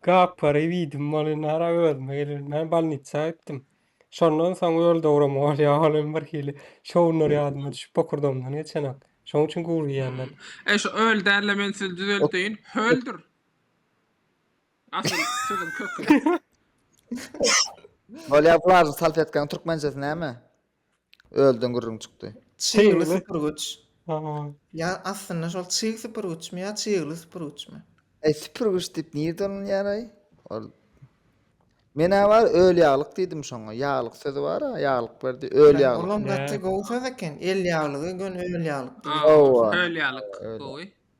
gapyryp iýdim bolynara özüme gelelmän bolnitsa gitdim şondan soň öl dowrama bolýa ol hem bir hili şowunlar ýadyma düşüp bokurdagymdan geçenak şoň üçin gury iýenden. E şu öl dälle men sizi düzelteýin höldir asyl sözüň köki. Bolýa bularyň salfetkaň türkmençesi näme. Ölden gürrüň çykdy. Çygly Çygly. süpürgüç. Aha. Ýa aslynda şol çyg süpürgüçmi ýa çygly süpürgüçmi? Eý süpürgüç diýip nirde ulanýaraý? Ol Men-ä bar öl ýaglyk diýdim şoňa. Ýaglyk sözi bar-a, ýaglyk berdi. Öl Bäh, ýaglyk. Olam gaty gowy söz eken. El ýaglygy, gön öl ýaglyk diýilýär. Hawa. Öl ýaglyk Öl. gowy.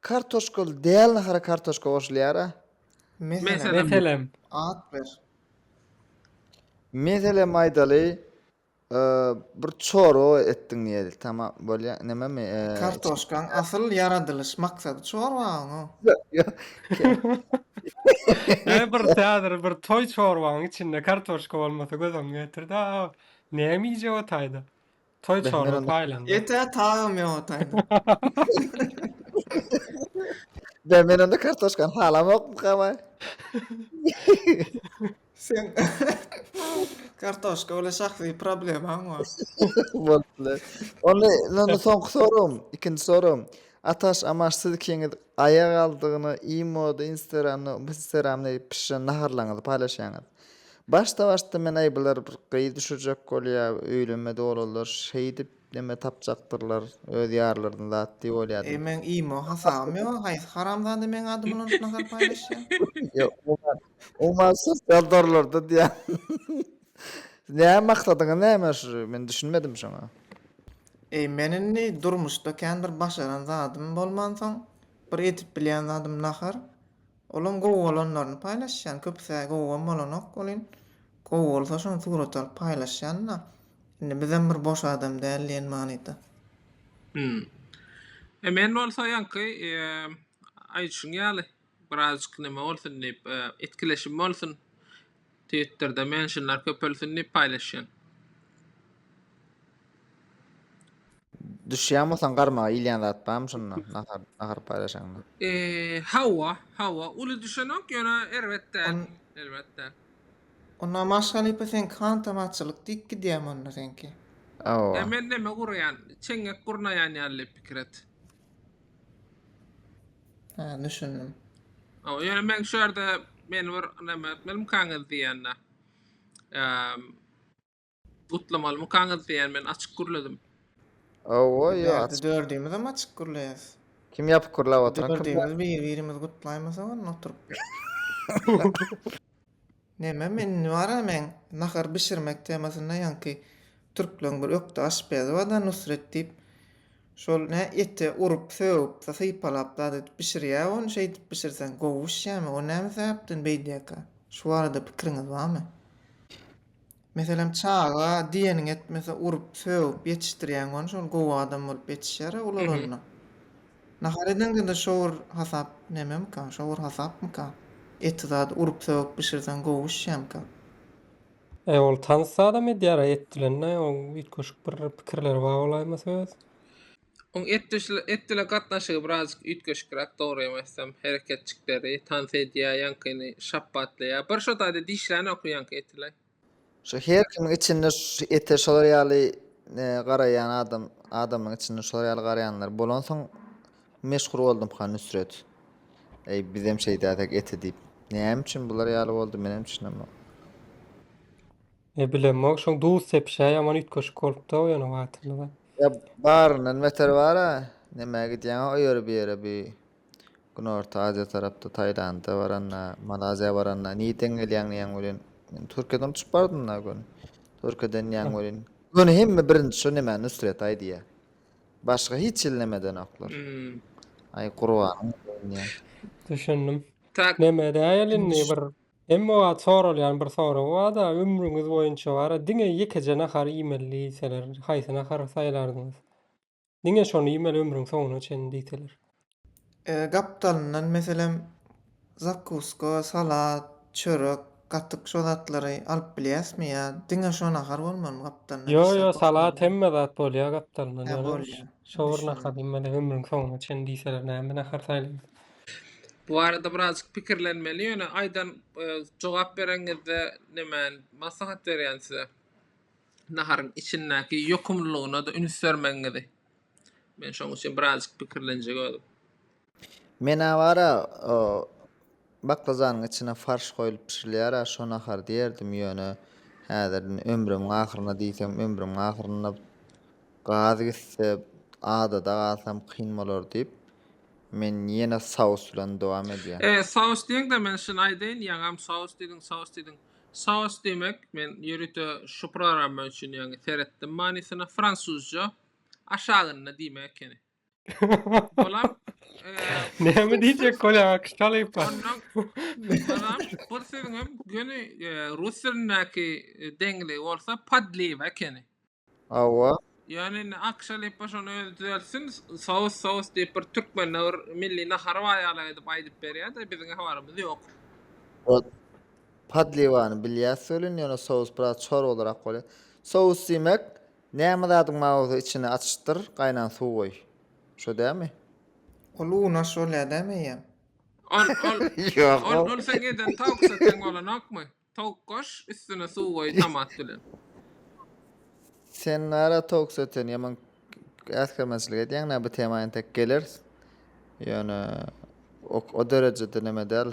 Kartoşkaly däl nahara kartoşka goşulýara. Meselem. Meselem. At ber. Meselem aýdaly, e, bir çorba etdiň diýeli. Tamam, bolýar. Nämemi? e, Kartoşkaň asyl ýaradylyş maksady çorbaň o. Näme bir häzir bir toý çorbaň içinde kartoşka bolmasa gözüň getirdi-a. Näme iýjek otaýda? Toý çorba paýlandy. Ete tabym ýok otaýda. Bä men onda kartoşkany halamokmyka baý. Sen kartoşka bilen şahsy problemaň bar. Bolupdyr. Onda indi soňky soragym, ikinji soragym. Ataş, Amaş siz ikiňiz aýagaldygyny imoda, instagramda, instagramda pişiren naharlaryňyzy paýlaşýaňyz. Başda başda meneý bular bir gyz düşürjek bolýa öýlenme dolalar şeýdip neme tapjaktyrlar öz ýarlaryny zat diýip oýladym. Meň imo hasabym ýok haýsy haramzada meň adymy ulanşyp nazar paýlaşýa. Ýok umuman umuman sosial torlarda diýýän. Näme maksadyňyz näme şu men düşünmedim şoňa. Eý men indi durmuşda kän bir başaran zadym bolmansoň bir edip bilýän zadym nahar Olam gowy bolanlaryny paýlaşýan köpüsä gowam bolanok welin gowy bolsa şony surat alyp paýlaşýanda indi bizem bir boş adam däl diýen manyda. Hüm. E men bolsa ýaňky aýdyşyň ýaly birazjyk neme bolsun diýip etkileşim bolsun. Twitter'da menşinler köpelsin diýip paýlaşýan. Düşýäňmisoň garmaga ilýän zat barmy şunda nahar nahar paýlaşaňda? Eee hawa hawa uly düşenok ýöne erbet däl erbet däl. Onda maşgalypa seňki hantam açylyk diýip gidýämi onda seňki? Hawa. Ýa men neme guraýan çeňňek gurnaýan ýaly pikir et. Ha, düşündim. O, ýöne men şu ýerde meni bir näme etmelimkaňyz diýende. Eee gutlamalymykaňyz diýen men açyk gürledim. Owo, ýa Bärde aç. dördümiz hem açyk gürleýäs. Kim ýapyk gürläp oturan? Kim? Dördümiz bir-birimizi gutlaýmasak onda oturyp. Neme men indi bar-a meň nahar bişirmek temasynda ýaňky türkleň bir ökde aşpezi bar-da Nusret diýip şol nä ete urup sögüp-de sypalap zat edip bişirýä ony şeýdip bişirseň gowy bişýämi o näme sebäpden beýdýäkä şu barada pikiriňiz barmy? Meselem, çaga diýeniňi etmese, urup, sögüp ýetişdirýäň ony, şol gowy adam bolup ýetişýär-ä ulalanda. Nahar edeňde-de şowur hasap nememika, şowur hasapmyka? Eti zady urup-sögüp bişirseň gowy bişýämika? E, ol tans zadam edýär-ä et bilen-de, oň üýtgeşik bir pikirleri bar bolaýmasa öz. Oň etdile gatnaşygy birazjyk üýtgeşikräk, dogryýam aýtsam, hereketjikleri, tans edýär, ýaňkyny şapbatlaýar. Bir şo taýda dişlänokmy ýaňky etile? Şo her kimiň içinde ete şolar ýaly garaýan adam, adamyň içinde şolar ýaly garaýanlar bolansoň meşhur boldumka Nusret. Eý, bizem şeýdäsek ete diýip. Näme üçin bular ýaly boldy, menem düşünemok. Ne bilemok şoň duz sepişä ýaman üýtgeşik bolupda o ýene wagtynda. Ýa baryndan beter bara nämä gidýäňa o ýere bu ýere bu Günorta Aziýa tarapda Taýlanda baranda Malaziýa baranda nirden gelýäň diýen welin men Türkiýeden uçup bardym da göni Türkiýeden diýen welin göni hemme birinji şo nämä Nusret aýdýa başga hiç hili näme edenoklar aý gurbanyň bolsun diýen. Düşündim. Tak. Näme edäýeli indi bir Emma wagt soralýan bir soragy bar-da, ömrüňiz boýunça bara diňe ýekeje nahar iýmeli diýseler, haýsy nahary saýlardyňyz? Diňe şony iýmeli ömrüň soňuna çenli diýseler. Gapdalyndan meselem, zakuska, salat, çörek, gatyk şo zatlary alyp bilýäsmi ýa diňe şo nahar bolmalymy gapdalyndan? Ýo, ýo, salat hemme zat bolýar gapdalyndan, ýöne şo bir nahary iýmeli ömrüň soňuna çenli diýseler näme nahary saýlardyňyz? Bu barada birazjyk pikirlenmeli, ýöne aýdan e, jogap bereňizde näme maslahat berýän size? Naharyň içindäki ýokumlylygyna-da üns bermegiňizi. Men şoň üçin birazjyk pikirlenjek özüm. Men awara o baklyjanyň içine farş goýlup bişirilýär a şo nahar diýerdim ýöne häzir ömrümiň ahyryna diýsem ömrümiň ahyryna gaz gitse adada galsam kyn bolar diýip Men ýene saus bilen dowam edýän. E, saus diýeňde men şuny aýdaýyn, ýaňam saus diýdiň, saus diýdiň. Saus diýmek, men ýörite şu programma üçin ýaňy seretdim manysyna, fransuzja aşagynda diýmek ekeni. Olam, e, Näme diýjek bolýaň akyş talyp? ondan, onam bir sözüňem göni e, rus dilindäki e, deňligi bolsa podliwa ekeni. Hawa. Ýöne indi Akşa Lipa şony özi düzeltsin, sous sous diýip bir türkmende bir milli nahary bar ýaly edip aýdyp berýär-de, biziň habarymyz ýok. Ot podliwany bilýäs welin, ýöne sous biraz çorbalyrak bolýar. Sous diýmek, näme zadyň bar bolsa içini açyşdyr, gaýnan suw goý. Şo dälmi? Ol unaş bolýar dämi eýýäm? Ol, ol, Ýok ol, ol. ol seň eden tawuk soteň bolanokmy? Towuk goş, üstüne suw goý tomat bilen. Sen nara towuk söten ýaman äsgermezçilik edýäň nä bu tema entek geleris. Ýöne o, o derejede neme däl.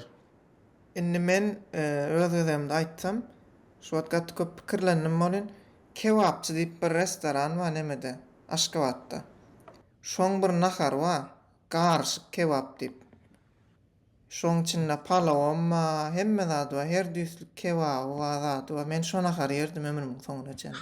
Indi men öz gezegimde aýtsam, şu wagt gaty köp pikirlendim bolýn. Kebapçy diýip bir restoran bar nämede, Aşgabatda. Şoň bir nahary bar, garyşyk kebap diýip. Şoň içinde palawam ba, hemme zady ba, her düýslik kebaby ba, zady ba. Men şo nahary ýerdim ömrümiň soňuna çenli.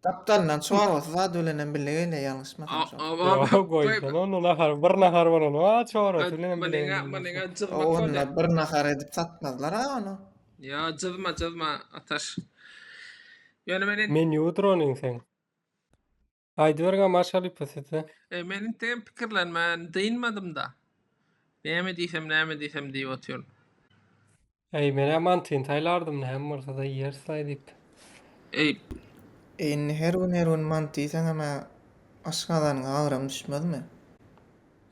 Gapdalyndan çorbasy zady bilenem bile gelýär ýalňyşmasam şo. Ýok, goýsana ony nahar, bir nahar bolan ba, çorbasy bilenem bile gelýär. Munyň-a, munyň-a jyzmak bolýar. Onda bir nahar edip satmazlar-a ony. Ýa, jyzma, jyzma, Ataş. Ýöne men indi. Menýudyr onuň seň. Aýdyberiň a marşaly pysysy. E, men inteýin pikirlenmän dynmadym-da. Näme diýsem, näme diýsem diýip otyryn. Äý, men-ä mantyny saýlardym, näme bolsa-da iýeris-laý diýip. Eý. E, indi her gün, her gün manty iýseňem-ä aşgazanyňa agram düşmezmi?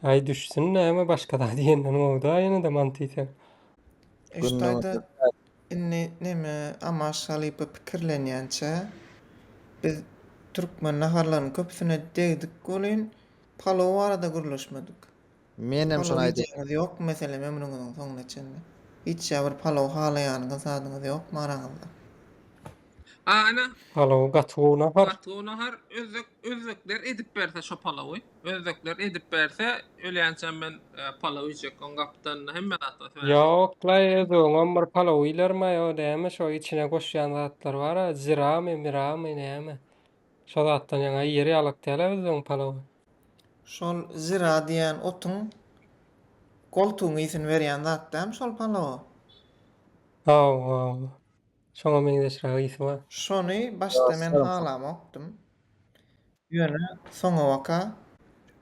Äý, düşsün, näme, başga zat iýenden gowy-da ýene-de manty iýseň. Eşit-aýda, Indi neme amaş halypa pikirlenýänçä, biz türkmen naharlarynyň köpüsine degdik welin, palow barada gürleşmedik. Menem şony aýdaýyn. Palow iýjäňiz ýokmy meselem ömrüňiziň soňuna çenli? Hiç ýa bir palow halaýanyňyz zadyňyz ýokmy araňyzda? Ana. Palawy gaty gowy nahar. Gaty gowy nahar. Özbek özbekler edip berse şo palawy. Özbekler edip berse ölýänçäm men palaw iýjek. Oň gapdalynda hemme zat bar. Ýok laý özbegiňem bir palaw iýlermaý o näme şo içine goşýan zatlar bara ziramy miramy näme şo zatdan ýaňa iýer ýalyk dälä özbegiň palawy. Şol zira diýýän otuň goltugyň ysyn berýän zat dämi şol palawa? Hawa hawa. Şoňa meňzeşräk ysy bar. Şony başda men halamokdym. Ýöne soňabaka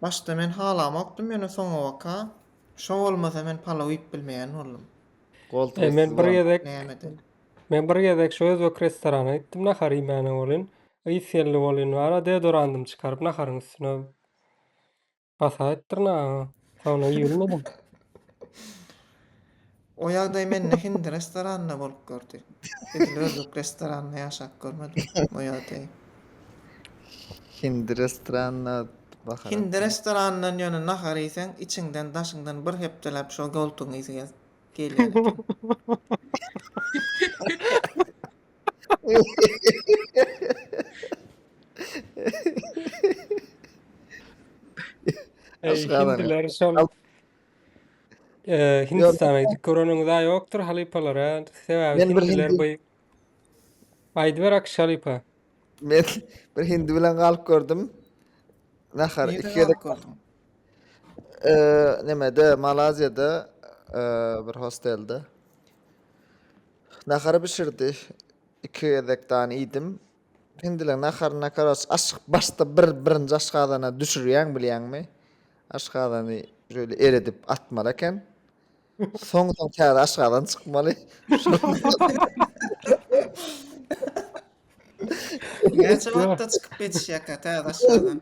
Başda men halamokdym ýöne soňabaka şo bolmasa men palaw iýip bilmeýän boldum. Goltugy Men bir gezek Nämede? Men bir gezek şu özbek restorana gitdim nahar iýmäne bolin. Ys geldi bolin wara deodorandym çykaryp naharyň üstüne Hasaýyp dyrnagyňy. Sowna iýilmedin. O ýagdaý mende hindi restoranynda bolup gördi. Edil özbek restoranynda ýaşap görmedim o ýagdaýy. Hindi restoranynda bahar. Hindi restoranyndan ýöne nahar iýseň, içiňden, daşyňdan bir hepdeläp şo goltugyň ysy gelýär eken. Eý, Aşgabada. hindiler şol Al- Eee, Hindistana gidip göreniňiz a ýokdur halypalar a. Sebäbi Men bir hindiler hindi- bu Aýdyber Akş halypa. Men bir hindi bilen galyp gördüm. Nahar Nirde iki gezek galyp gördüň? eee, nämede Malaziýada eee, bir hostelde. Nahary bişirdi. Iki gezek dany iýdim. Hindileň naharyna karaç aşyk başda bir birinji aşgazana düşürýäň bilýäňmi? Aşgazany şöyle eredip atmaly eken. Soň soň täze aşgazan çykmaly. Näçe wagtda çykyp geçýärkä täze aşgazan?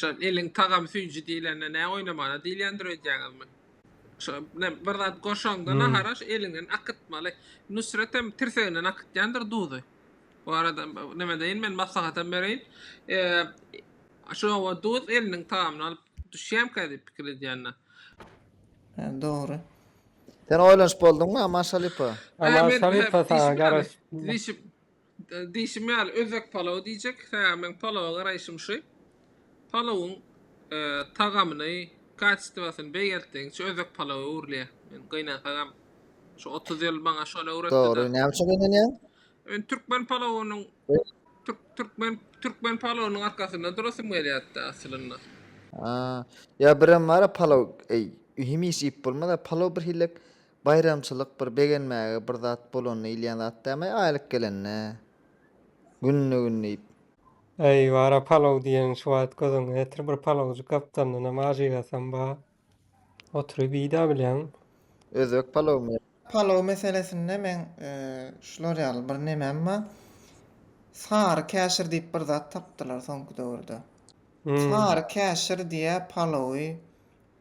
Şo eliň tagam süýji diýlende nä oýnamana diýilýändir öýdýäňizmi? Şo ne bir zat goşaňda nahara şo eliňden akytmaly. Nusret hem tirseginden akytýandyr duzy. Bu arada näme deýin men maslahatam bereýin. Şowa duz eliniň tagamyny alyp düşýämkä diýip pikir edýänler. Hä, dogry. Sen oýlanyp bolduňmy Aman Şalypa? Aman Şalypa saňa garaşyp. Diýşim ýaly, özbek palawy diýjek. Hä, meň palawa garaýşym şu. Palawyň tagamyny, kaçestwasyny beýgeltdigiňçe özbek palawa öwrülýär. Men gynansaňam şu otuz ýyl maňa şony öwretdi-de. Dogry, näme üçin gynanýaň? Men türkmen palawynyň türkmen türkmen palawynyň arkasynda durasym gelýärdi-de aslynda. Aa, ýa birem bar-a palaw, eý, hemişe iýip bolmaz-a, palaw birhili Baýramçylyk bir begenmäge bir zat bolanda iýilýän zat dämi, aýlyk gelende, günde-gün diýip. Äý, bar-a, palaw diýeň şu wagt gözüňe getir, bir palawjyk gapdalyndanam ajygasam bar. Oturyp iý-dä bilýäň. Özbek palawymy ýa? Palaw meselesinde meň şular ýaly bir nemem bar. Sary käşir diýip bir zat tapdylar soňky döwürde. Sary käşir diýä palawy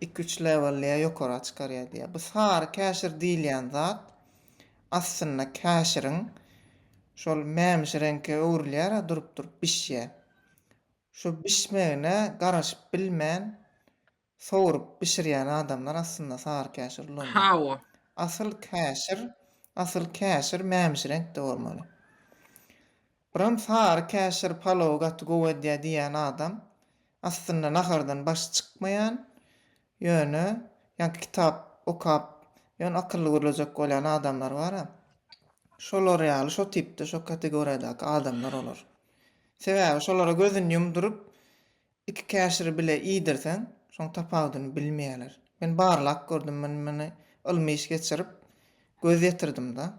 iki-üç lewellä ýokara çykarýar diýýär. Bu sary käşir diýilýän zat aslynda käşiriň şol mämiş reňke öwrülýär-ä durup-durup bişýär. Şu bişmegine garaşyp bilmän sowrup bişirýän adamlar aslynda sary käşir ulanýar. Hawa. Asyl käşir, asyl käşir mämiş reňkde bolmaly. Buram sary käşir palowy gaty gowy edýär diýýän adam, aslynda nahardan başy çykmaýan, ýöne ýaňky kitap okap, ýöne akylly gürlejek bolýan adamlar bar-a. Şolar ýaly, şo tipde, şo kategoriýadaky adamlar olar. Sebäbi şolara gözüni ýumduryp, Iki käşiri bile iýdirseň, şoň tapawudyny bilmeýärler. Men barlap gördüm, men muny ylmy iş geçirip, göz ýetirdim-da.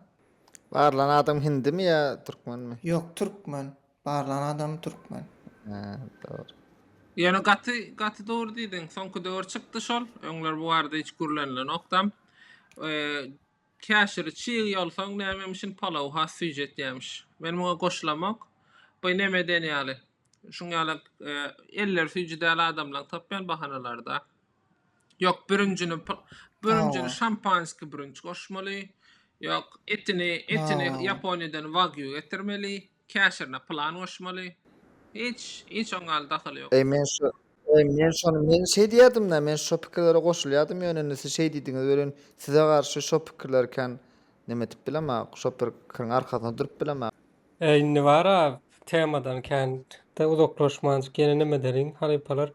Barlan adam hindimi ýa türkmenmi? Ýok, türkmen. Barlan adam türkmen. Hä, dogry. Ýöne gaty, gaty dogry diýdiň. Soňky döwür çykdy şol. Öňler bu barada hiç gürlenilenokdam. Käşiri çyg ýolsaň nämemişin palaw has süýji etýämiş. Men muňa goşulamok. By neme den ýaly. Şuň ýaly elleri süýji däl adamlaň tapýan bahanalarda. Ýok bürünjini bürünjini şampanski bürünç goşmaly. Ýok etini etini Ýaponiýadan wagyu getirmeli. Käşirine plan goşmaly. Hiç, hiç oň al dahaly ýok. Eý men şo, eý men şony men şeý diýýädimda, men şo pikirlere goşulýadym ýöne indi siz şeý diýdiňiz welin size garşy şo pikirleri kän neme edip bilemok, şo pir kiriň arkasyna durup bilemok. Eý indi bara temadan kän-de uzaklaşmanjyk ýene neme ederiň halypalar.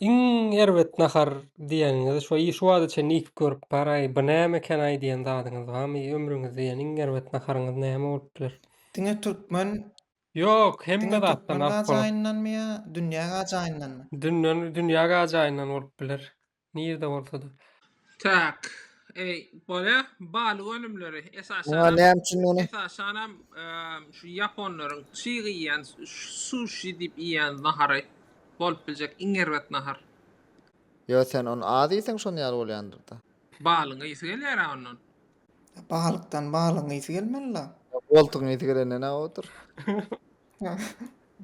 Iň erbet nahar diýeniňizi şo şu wagta çenli iýip görüp baraý, bu näme ekenaý diýen zadyňyz barmy? Ömrüňizde iýen iň erbet naharyňyz näme bolup biler? Diňe türkmen Ýok, hemme diňe zatdan türkmen alyp bolar. gajaýyndanmy ýa dünýä gajaýyndanmy? Dünden dünýä gajaýyndan bolup biler. Nirde bolsada. Tak. Eý, bolýa. Balyk önümleri, esasanam. Muňa näme üçin ony? Esasanam şu ýaponlaryň çyg iýýän, suşi diýip iýýän nahary bolup biljek iň erbet nahar. Ýa sen ony az iýseň şon ýaly bolýandyr-da. Balygyň ysy gelýär-ä ondan. Balykdan balygyň ysy gelmeli-la. Goltugyň ysy gelenden-ä odur.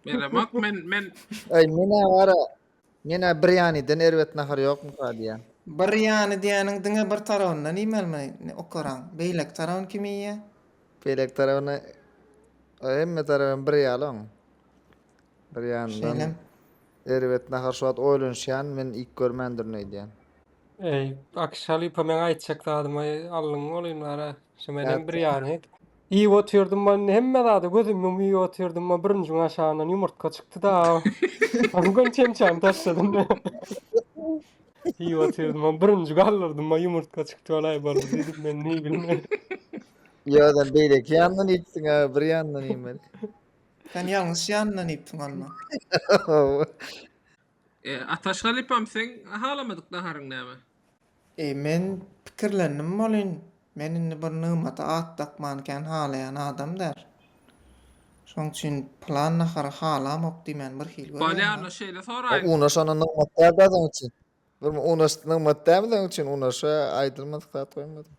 Belemok men, men. Eý, men-ä bar-a. Menä birýanydan erbet nahar ýokmyka diýýän. Birýany diýýäniň diňe bir tarabyndan iýmelimi okaraň? Beýleki tarabyny kim iýýä? Beýleki tarabyny hemme tarap hem bir ýaly oň. Birýanyndan Şeýlem. erbet nahar şu wagt oýlanyşýan men iýip görmändirin öýdýän. Eý, Akyş halypa meň aýtjak zadymy aldyň olyny ara. Şu menem Nätdi? birýany. Iýip otyrdym-a indi hemme zada gözüm ýumup iýip otyrdym-a bürünjiň aşagyndan ýumurtga çykdy-da. Ony göni çemçäni taşladym. Iýip otyrdym-a bürünji galdyrdym-a ýumurtga çykdy walaý boldy diýdim men neý bilmeýin. Ýa-da beýleki ýandan iýipsiň-ä bir ýandan iýmeli. Sen ýalňyş ýanyndan iýipsiň onda. Ataş halypam seň halamadyk naharyň näme? Eý, men pikirlendim welin, men indi bir nygmata at dakmany kän halaýan adam däl. Şonuň üçin pylan nahary halamok diýmäni birhili görýän-le. Bolýar-la, şeýle soraýyn. Unaş onda nygmat däl-dä seniň üçin. Bir unaş nygmat dälmi seniň üçin? Unaşa aýdylmadyk zat goýmadyň.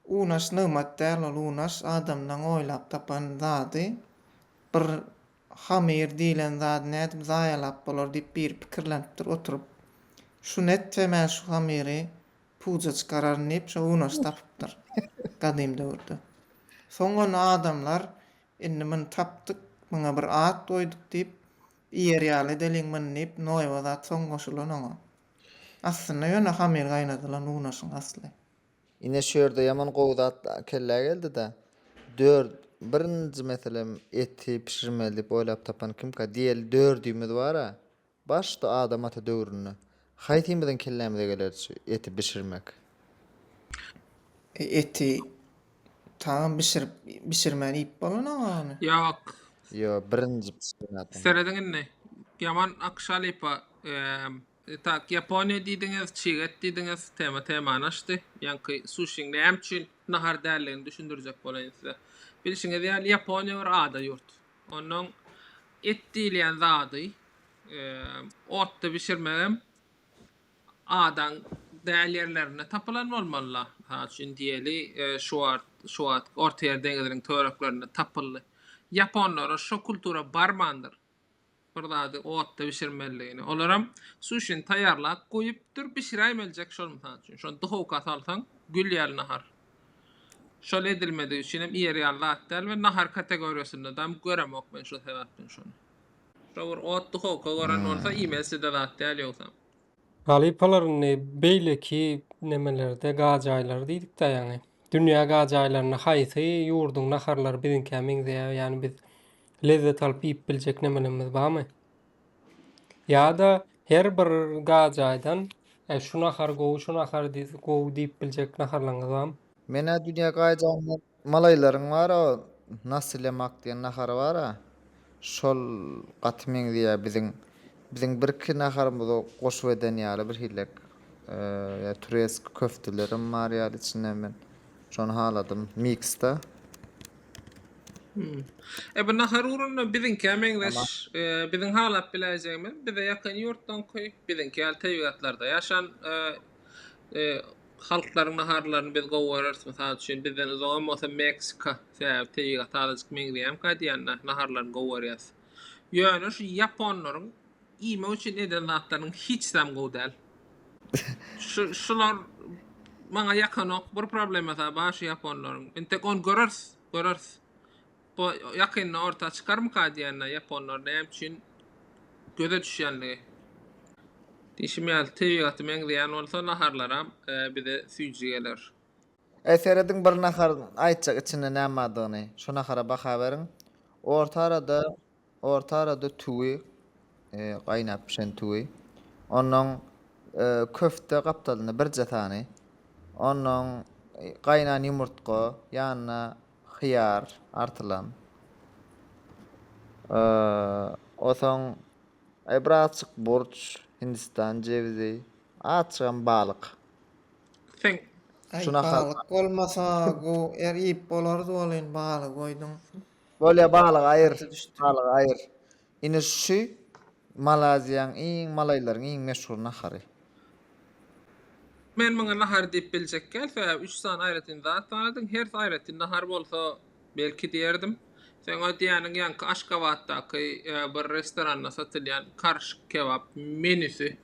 Unaş nygmat däl ol unaş adamlaň oýlap tapan zady bir hamyr diýilen zady nädip zaýalap bolar diýip biri pikirlenipdir oturyp şuny etse men şu hamyry puja çykararyn diýip şo unaşy tapypdyr gadym döwürde soň ony adamlar indi muny tapdyk muňa bir at goýduk diýip iýer ýaly edeliň muny diýip noýba zat soň goşulan oňa aslynda ýöne hamyr gaýnadylan unaşyň asly Ine şu ýerde ýaman gowy zat kellä geldida. Dört, birinji meselem eti bişirmeli diýip oýlap tapan kimka? Diýeli dördümiz bar-a. Başda Adam ata döwründe. Haýsymyzyň kellämize gelerdi şu eti bişirmek? E eti taňam bişirip bişirmän iýip bolanaga ony. Ýok. Ýo, birinji bişiren adam. Serediň indi. Ýaman akşa lypa eee Itak Ýaponiýa diýdiňiz, çig et diýdiňiz, tema temany açdy. Ýaňky suşiň näme üçin nahar däldigini düşündirjek bolaýyn size. Bilşiňiz ýaly Ýaponiýa bir ada ýurt. Onnoň et diýilýän zady otda bişirmegem adaň däl ýerlerinde tapylan bolmaly-la. Mysal üçin diýeli şu wagt şu wagt Ortaýer deňiziniň töwereklerinde tapyldy. Ýaponlara şo kultura barmandyr. bir zady otda bişirmelidigini. Olaram suşini taýýarlap goýupdyr, bişiräýmeljek şol mysal üçin. Şony duhowka salsaň, gül ýaly nahar. Şol edilmedigi üçinem iýer ýaly zat däl we nahar kategoriýasynda dam göremok men şol sebäpden şony. Şo bir ot duhowka gören bolsa iýmeside zat däl ýogsam. Halypalar indi beýleki nemelerde gajaýlary diýdikdä ýaňy. Dünýä gajaýlarynda haýsy ýurduň naharlary biziňkä meňzeýär? Ýani biz lezzet alyp iýip biljek nemelerimiz barmy? Ýa-da her bir ga jaýdan e, şu nahar gowy, şu nahar gowy diýip biljek naharlaryňyz barmy? Menä dünýä gaýjanda malaýlaryň bar-a, nasi lemak diýen nahary bar-a, şol gaty meňzeýär biziň biziň birki naharymyza goşup eden ýaly birhilek. E, ýa tureski köftelerim bar ýaly içinde men şony haladym miksde. Hmm. E bu nahar ugrunda biziňkä meňzeş. E, biziň halap biläýjegimiz bize ýakyn ýurtdan köý, biziňki ýaly tebigatlarda ýaşan e, e, halklaryň naharlaryny biz gowy göreriz. Mysal üçin bizden uzak hem bolsa Meksika, sebäbi tebigat azajyk meňzeýär gaýdýan naharlaryny gowy görýäs. Ýöne şu ýaponlaryň iýmek üçin eden zatlarynyň hiç zam gowy däl. Şu şular maňa ýakanok. Bir problemasy bar şu ýaponlaryň. Indi tek ony göreriz. Göreris. Bu ýakynda orta çykarmyka diýýänler ýaponlar näme üçin göze düşýänligi. Diýşim ýaly tebigaty meňzeýän bolsa naharlaram bize süýji geler. Eý serediň bir nahar aýtjak içinde näme bardygyny. Şo nahara baha beriň. Orta arada. Orta arada tüwi, gaýnap bişen tüwi. Onnoň köfte gapdalynda birje sany. Onnoň gaýnan ýumurtga, ýanyna hyýar artylan. Osoň bir azjyk burç, hindistan jewizi, azjygam balyk. Sen. Aý, balyk bolmasa gowy, er iýip bolardy welin, balygy goýduň. Bolýa balygy aýyr balygy aýyr. Ine şu Malaziýaň iň malaýlaryň iň meşhur nahary. Men muňa nahar diýip biljekgäl sebäbi üç sany aýratyn zat sanadyň hersi aýratyn nahar bolsa belki diýerdim. Seň o diýýäniň ýaňky Aşgabatdaky bir restoranda satylýan karşik kebap menüsi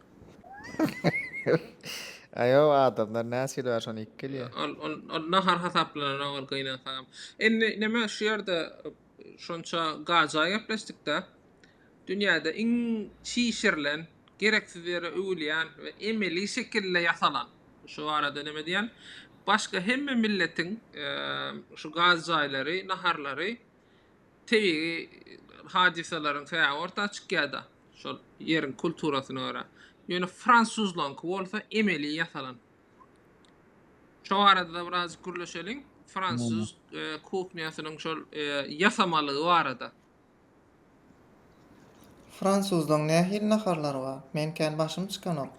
Aýow adamlar näçe kilo bar şony iýip gelýär. Ol ol ol nahar hasaplananok ol gynansagam. Indi näme şu ýerde şonça gaja gepleşdikde dünýäde iň çişirilen, gereksiz ýere öwülýän we emeli şekilde ýasalan, şu barada näme diýen, başga hemme milletiň şu gaz jaýlary, naharlary tebigy hadysalaryň sebäbi orta çykýar-da, şol ýeriň kulturasyna görä. Ýöne fransuzlaryňky bolsa emeli ýasalan. Şo barada-da birazajyk gürleşeliň. Fransuz kuhnýasynyň şol ýasamalygy barada. Fransuzlaryň nähili naharlary bar? Men kän başym çykanok.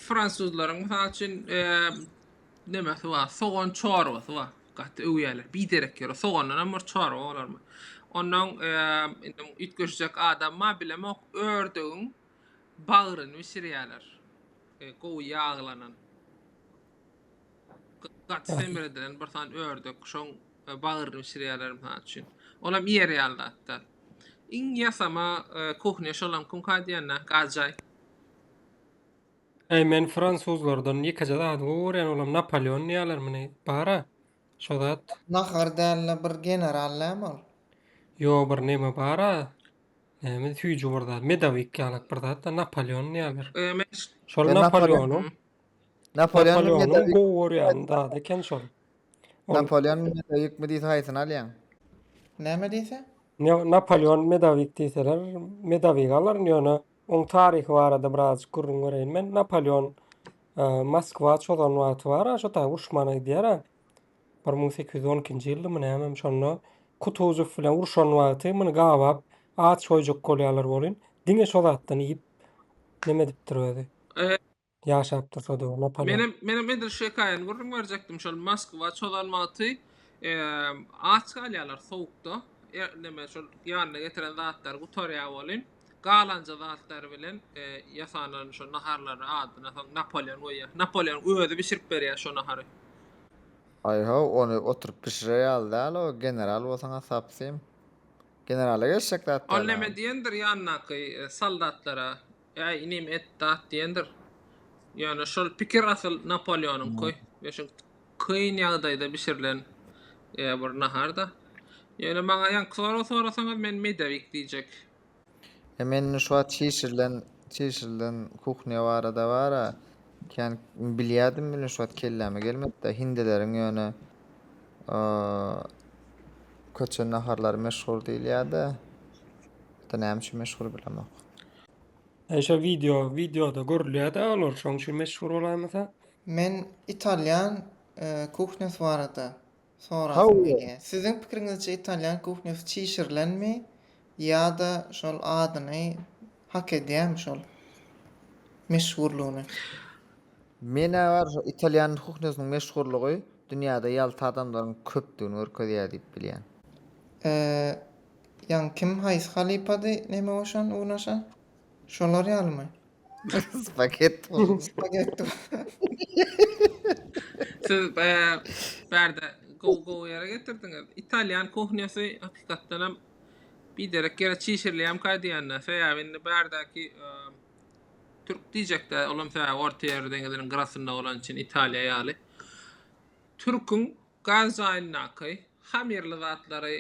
Fransuzlaryň, mysal üçin, Nemesi bar? Sogan çorbasy bar. Gaty öwýärler. Biderek ýöre sogandanam bir çorba bolarmy? Ondan indi üýtgeşjek adam bar, bilemok. Ördügiň bagryny bişirýärler. E, gowy ýaglanan. Gaty semir edilen bir sany ördek, şoň e, bagryny bişirýärler mysal üçin. Olam iýer ýaly zatda. Iň ýasama e, kuhnya şolam kumka diýende, gajaý. Äý men fransuzlardan ýekeje zady gowy görýän olam Napoleon diýýäler muny bara şo zat. Nahar dälde bir general näme ol. Ýo bir neme bara näme süýji bir zat medowik ýalak bir zatda Napoleon diýýäler. Şol Napoleonyň Napoleonyň gowy görýän zady eken şol. Napoleon medowikmi diýse haýsyny alýaň. Näme diýse? Napoleon medowik diýseler medowigy alaryn ýöne Onuň taryhy barada birazjyk gürrüň bereýin men. Napoleon Moskwa çozan wagty bar, şo taýy uruşmana gidýär. Bir müň sekiz ýüz on ikinji ýyldymy nämem şonda Kutuzow bilen uruşan wagty muny gabap aç goýjak bolýarlar welin, diňe şo zatdan iýip neme edipdir özi. Ýaşap durşa döw Napoleon. Menem menem edil şu hekaýany gürrüň berjekdim şol Moskwa çozan wagty aç galýalar sowukda neme şol ýanyna getiren zatlary gutarýa welin galanja zatlary bilen ýasanan şo naharlary adyna soň Napoleon goýýa Napoleon özi bişirip berýä şo nahary. Aý how ony oturyp bişirer ýaly däl o general bolsaňa sapsym. Generala geçjek zat däl. Ol neme diýendir ýanyndaky soldatlara Äý, inim, et dat diýendir. Ýöne şol pikir asyl Napoleonyňky. Şu kyn ýagdaýda bişirilen bir nahar-da. Ýöne maňa ýaňky sorag sorasaňyz, men medowik diýjek. E, men indi şu wagt çişirilen, çişirilen kuhnya barada bar-a, kän bilýärdim, indi şu wagt kelläme gelmedi-de. Hindileriň ýöne köçe naharlary meşhur diýilýär-de. Näme üçin meşhur, bilemok. Eşe video videoda görülýärde olar şoň üçin meşhur bolaýmasa. Men italýan kuhnýasy barada sorasym gelýä. Siziň pikiriňizçe italýan kuhnýasy çişirilenmi ýa-da şol adyny hak edýärmi şol meşhurlygyny? Menä bar şu italýan kuhnýasynyň meşhurlygy dünýäde ýalta adamlaryň köpdügini görkezýär diýip bilýän. Ýaňy kim haýsy halypady neme goşan unaşa? Şolar ýalymy? Spagetti bolupdyr. Spagetti Siz baýa bärde gowy gowy ýere getirdiňiz. Italýan kuhnýasy hakykatdan hem biderek ýere çişirilýärmikä diýende. Sebäbi indi bärdäki türk diýjekdä, olam sebäbi Ortaýer deňiziniň gyrasynda bolany üçin Italiýa ýaly. Türküň Gaz jaýyndaky hamirli zatlary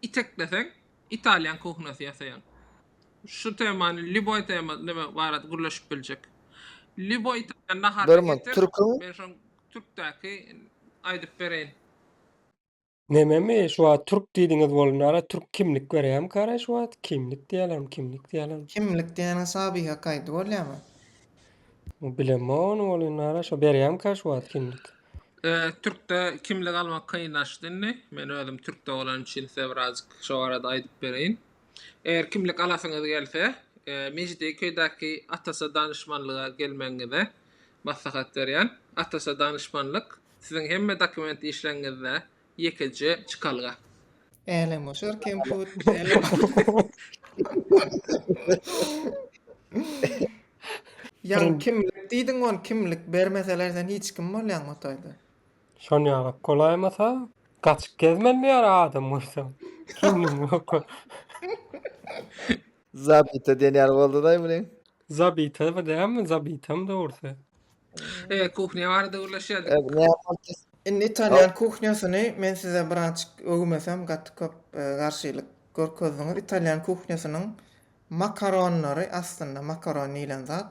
itekleseň, italýan kuhnasy ýasaýaň. Şu temany lýuboý tema neme barada gürleşip biljek. Lýuboý italýan naharyny getir, men şoň türkdäki aýdyp bereýin. Nememi şu wagt türk diýdiňiz bolunara türk kimlik berýämi karaý şu wagt kimlik diýälermi kimlik diýälermi. Kimlik diýeniň sabyha kaýdy bolýamy. Bilemon ol indi ara şo berýämka şu wagt kimlik. Türkde kimlik almak kynlaşdy indi. Men özüm türkde bolan üçin size birazjyk şo barada aýdyp bereýin. Eger kimlik alasyňyz gelse, Mejidi köýdäki Atasa danyşmanlyga gelmegiňize maslahat berýän. Atasa danyşmanlyk siziň hemme dokument işleňňizde Ýekeje çykalga. Älemgoşar kemput biz äle Jan kimlik diýdiň ony kimlik bermeseler sen hiç kim bolýaň Hotaýda. Şon ýalak golaýmasa gaçyp gezmeli ýara adam görseň. Kimligiň ýoka. Zabita diýen ýaly boldy-daý muny. Zabita bir dämi, zabitam dogrusy. E, kuhnya barada gürleşýärdik. E, näme boldy? Indi italýan kuhnýasyny men size birazjyk öwmesem gaty köp garşylyk görkezdiňiz. Italýan kuhnýasynyň makaronlary aslynda makaron diýlen zat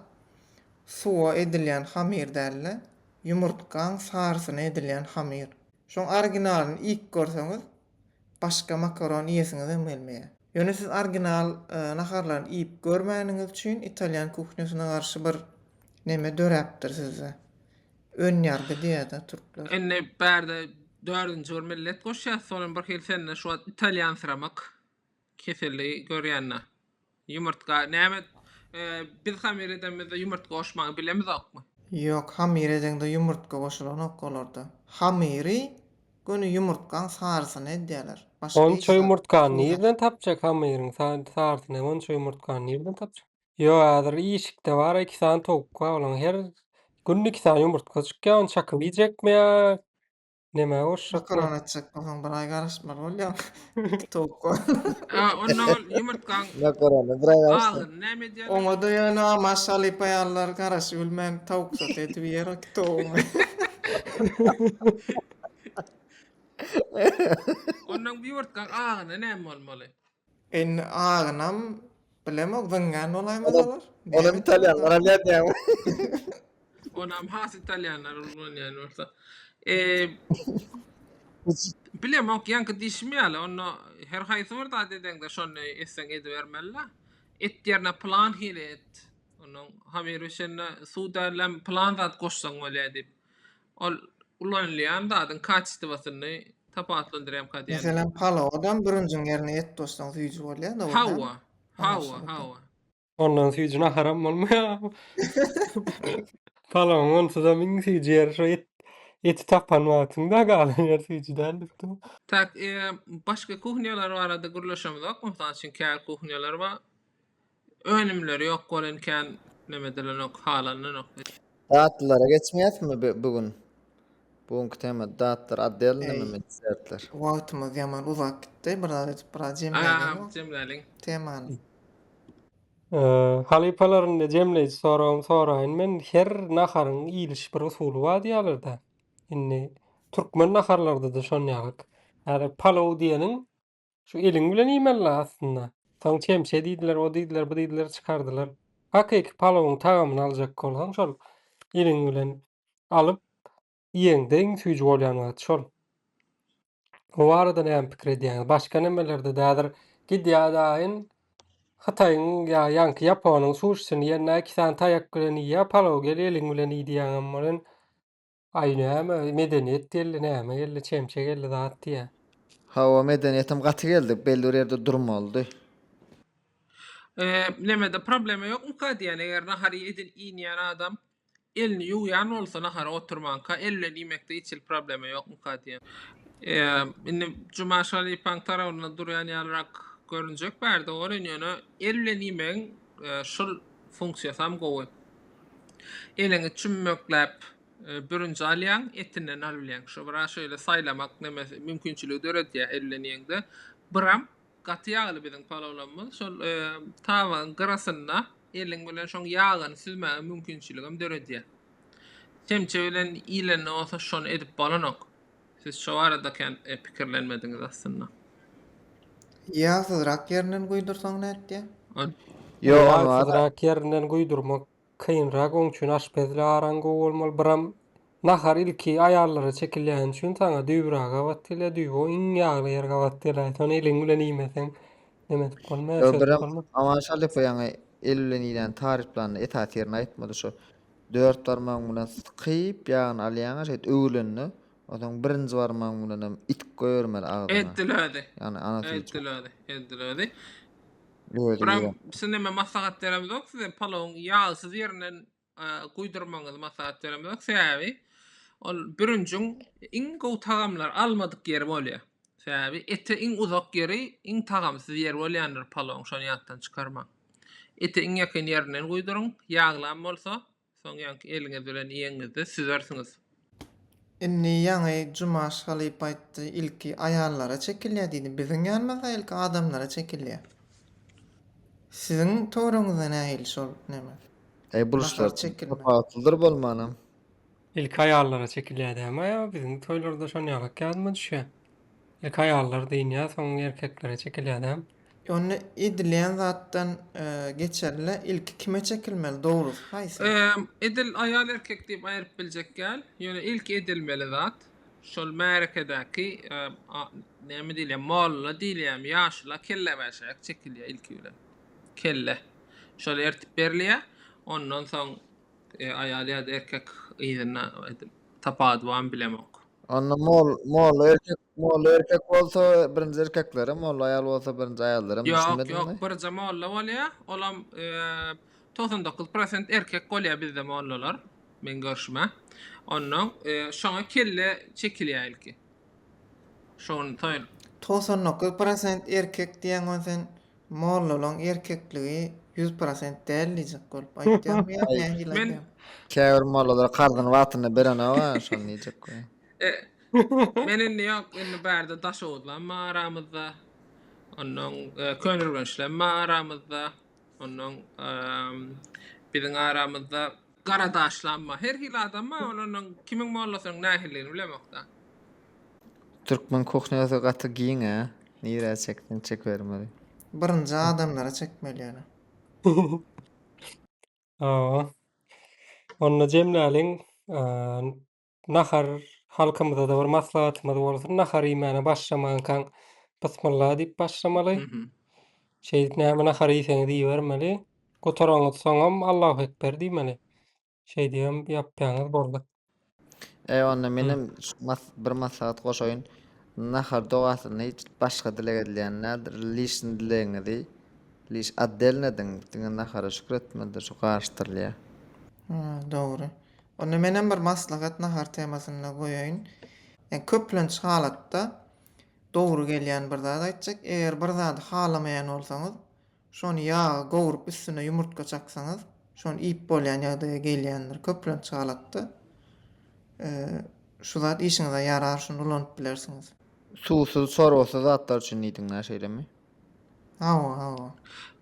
suwa edilýän hamyr däl-de, ýumurtgaň sarysyna edilýän hamyr. Şoň originalyny iýip görseňiz, başga makaron iýesiňizem gelmeýär. Ýöne siz orginal naharlaryny iýip görmäniňiz üçin italýan kuhnýasyna garşy bir neme döräpdir sizde. Önýargy diýýär-dä türkler. Indi bärde dördünji bir millet goşýas, sonem bir hili sende şu wagt italýansyramak. Keseli görýänler. Ýumurtga näme biz hamir edemizde ýumurtga goşmagy bilemizokmy? Ýok hamir edeňde ýumurtga goşulanok olarda. Hamyry göni ýumurtgaň sarysyny edýäler. Başga hiç Onça zat ýumurtgany suw nirden tapjak hamyryň sarysyny hem onça ýumurtgany nirden tapjak. Ýok häzir işikde bar iki sany towuk bar olaň her günde iki sany ýumurtga çykýar ony çakyp iýjekmi ýa Nämä urşak? Makaron etjek bolsaň bir aý garaşmaly bolýar. Towukga. Ha, onda ol ýumurtgaň Makarona bir aý garaşsa. agyryny näme edýär? Oňa-da ýöne amaş halypa ýalylar garaşy bilmän towuk soty edip iýer o iki towugyňy. Ondan bu ýumurtgaň agyryna näme bolmaly? Indi agynam bilemok zyňýan bolaýmasalar. Onam italýanlar alýar diýýäňmi? Onam has italýanlar ullanýan bolsa. Bilemok ýaňky diýşim ýaly onda her haýsy bir zat edeňde şony etseň edibermelila. Et ýerine plan hili et. Ondan haberbişende suw dällem plan zat goşsaň bolýar diýip. Ol ulanylýan zadyň kaçestiwasyny tapawutlandyrýarmyka diýýän. Meselem, palawydam bürünjiň ýerine et goşsaň süýji bolýa, dogry dälmi? Hawa, hawa, hawa. Ondan süýji naharam bolmaýarmy? Palawyň onsuzam iň süýji ýeri şo et, eti tapan wagtyň-da, galan ýeri süýji däl diýipdim. Tak, eee, başga kuhnýalar barada gürleşemizok, mysal üçin käbir kuhnýalar bar, Önümler ýok bolan kän neme edilenok halanynok. Datlylara geçmeýäsmi bu gün? Bu günki tema datlar otdel neme mi desertler. Wagtymyz ýaman uzap gitdi bir zat edip bir zat jemläliň o jemläliň temany. Halypalar indi jemleýji soragym soraýyn men her naharyň iýiliş bir usuly bar diýýälerda indi türkmen naharlaryda-da şon ýalyk häzir palow diýeniň Şu eliň bilen iýmeli la aslynda. Soň çemçe diýdiler, o diýdiler, bu diýdiler çykardylar. Hakyky palawyň tagamyny aljak bolsaň şol eliň bilen alyp iýeňde iň süýji bolýan wagty şol. O barada näme pikir edýäňiz? Başga nemelerde-de häzir gidýär-de aýn Hytaýyň ýa ýaňky Ýaponyň suşisini iýende iki sany taýak bilen iýýär palawy gel eliň bilen iý diýýäňem bolan. Aý näme medeniýet geldi näme geldi çemçe geldi zat diýä. Hawa medeniýetem gaty geldi belli bir ýerde durmalydy. Eee nemede problema ýokmyka diýýän eger nahary edil iýinýän adam elini ýuwýan bolsa nahara oturmanka el bilen iýmekde hiç hili problema ýokmyka diýýän. Eee indi Juma Şalypaň tarabynda durýan ýalyrak görünjek bärde oren ýöne el bilen iýmegiň şul funksiýasam gowy. Eliňi çümmekläp bürünji alýaň, etinden alybilýäň. Şo bir şeýle saýlamak nemesi, mümkinçiligi döredýär ellenýeňde. Biram gaty ýagly biziň palowlarymyz. Şol tabagyň gyrasynda eliň bilen şoň ýagyny süzmäge mümkinçiligem döredýär. Çemçe bilen iýlende bolsa şony edip bolanok. Siz şo barada kän pikirlenmediňiz aslynda. Ýagsyzrak ýerinden guýdursaň nätýär? Ol. Ýagsyzrak ýerinden guýdurmak kynrak oň üçin aşpezli araň gowy bolmaly biram nahar ilki aýallara çekilýäni üçin saňa düýbüragy gabat gelýär düýbi o iň ýagly ýer gabat gelaýýr şony eliň bilen iýmeseň neme edip bolmaýar Ýo şeýdip biram bolmaz. Aman Şalypow ýaňy eli bilen iýläni taryplanda esasy ýerini aýtmady şo. Dört barmagyň bilen sykyp, ýagyny alýaňa şeýt öwülende, onsoň birinji barmagyň bilen hem itip goýbermeli agzyna. Eddi lödi. Ýagny anasy Eddi üçin. lödi. Eddi lödi. Lödi Bram, ýa. biz näme maslahat beremizok size, palawyň ýagsyz ýerinden e, guýdurmagyňyzy maslahat beremizok. Sebäbi ol bürünjiň iň gowy tagamlary almadyk ýeri bolýar. Sebäbi ete iň uzak ýeri, iň tagamsyz ýeri bolýandyr palawyň, şony ýatdan çykarmaň. Eti iň ýakyn ýerinden guýduryň. Ýaglam bolsa, soňňanky eliňiz bilen iýeňizde süzersiňiz. Indi ýaňy Jumaş halypa aýtdy, ilki aýallara çekilýär diýdi. Biziň ýanymyzda ilki adamlara çekilýär. Siziň töweregiňizde nähili şol neme? Eý, buluşlar tapawutlydyr bolmanam. Ilki aýallara çekilýär dämi aýaw? Biziň toýlarda şon ýalyk ýadyma düşýär. Ilki aýallar dyňýar, soň erkeklere çekilýär dämi? Onda edilýän zatdan geçerlä ilki kime çekilmeli, dogrusy haýsy? Edil aýal erkek diýip aýryp biljek däl. Ýöne ilki edilmeli zat şol märekedäki näme diýilýär, molla diýilýärmi, ýaşula kellebäşäýek çekilýär ilki bilen. Kelle. Şol ertip berilýär. Ondan soň aýal ýa-da erkek yzyna edil tapawudy barmy bilemok. Onda mol molla erkek molla erkek bolsa birinji erkekleri, molla aýal bolsa birinji aýallary Ýok, ýok, birje molla bolýa, olam togsan dokuz prosent erkek bolýa bizde mollalar, meň görşüme. Onnoň şoňa kelle çekilýä ilki. Şony toýun. Togsan dokuz prosent erkek diýen gon sen Mollalaň erkekligi ýüz prosent däl diýjek bolup aýtýaňmy ýa nähili Men- aýdýaň? Käbir mollalar karzyny wagtynda berenok-a, şony diýjek goý. Men indi ýok, indi bärde Daşoguzlam bar aramyzda. Onnoň e, Köneürgençlem bar aramyzda. Onnoň e, biziň aramyzda Gara daşlanma. Her hili adam bar, olardan kimiň mollasynyň nähilidigini bilemokda. Türkmen kuhnýasy gaty giň a. Nirä çekseň çekibermeli. Birinji adamlara çekmeli ýöne. Hawa. Onda jemläliň. nahar halkymyzada bir maslahatymyz bolsun. Nahar iýmäne başlamankaň Bismillah diýip başlamaly. Mhm. Şeýdip näme nahar iýseňiz iýibermeli. Gutaraňyz soňam Allahu ekber diýmeli. Şeýdibem ýapýaňyz boldy. Eý onda Hı. menem şu mas- bir maslahat goşaýyn. Nahar dogasyny hiç başga dileg edilýän däldir. Lişni dilegiňizi liş atdelin ediň. Diňe nahara şükür etmelidir, şu garyşdyrylýar. Hä, dogry. Onda menem bir maslahat nahar temasynda goýaýyn. Ýa köplenç halatda dogry gelýän bir zat aýtjak. Eger bir zady halamaýan bolsaňyz, şony ýaga gowrup üstüne ýumurtga çaksaňyz, şony iýip bolýan ýagdaýa gelýändir. Köplenç halatda şu zat işiňize ýarar, şuny ulanyp bilersiňiz. Suwsuz, çorbasyz zatlar üçin diýdiň-ä, şeýlemi? Hawa, hawa.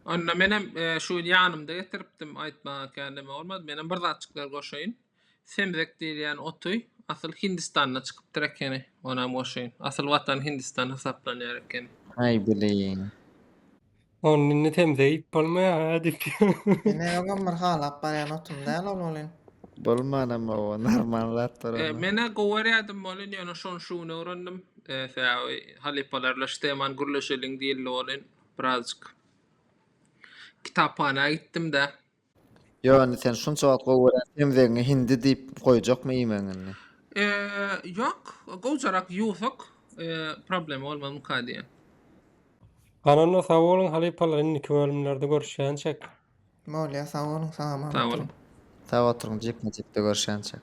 Onda menem e, şu gün ýanymda getiripdim, aýtmaga kän neme bolmady. Menem bir zatjyklar goşaýyn. Semzek diýilýän oty asyl Hindistanda çykypdyr ekeni, onam goşaýyn. Asyl watan Hindistan hasaplanýar ekeni. Aý bileýin. Onda indi semze iýip bolmaýar-a diýip. Ine öňem bir halap barýan otum däl ol welin. Bolmanam o, normal zatdyr E, ony. men-ä gowy görýärdim welin, ýöne şony şu gün öwrendim. Ese abi halypalarla şteman gürleşeliň diýildi welin birazjyk kitaphana gitdim-de. Ýo indi sen şunça wagt gowy görýän semzegiňi hindi diýip goýjakmy iýmegiň indi? Ýok gowjarak ýuwsak problema bolmaz muka diýýän. Gananda sag boluň halypalar indiki bölümlerde görüşýänçek. Bolýa sag boluň salam alykum. Sag boluň. Sag oturyň jikme jikde görüşýänçek.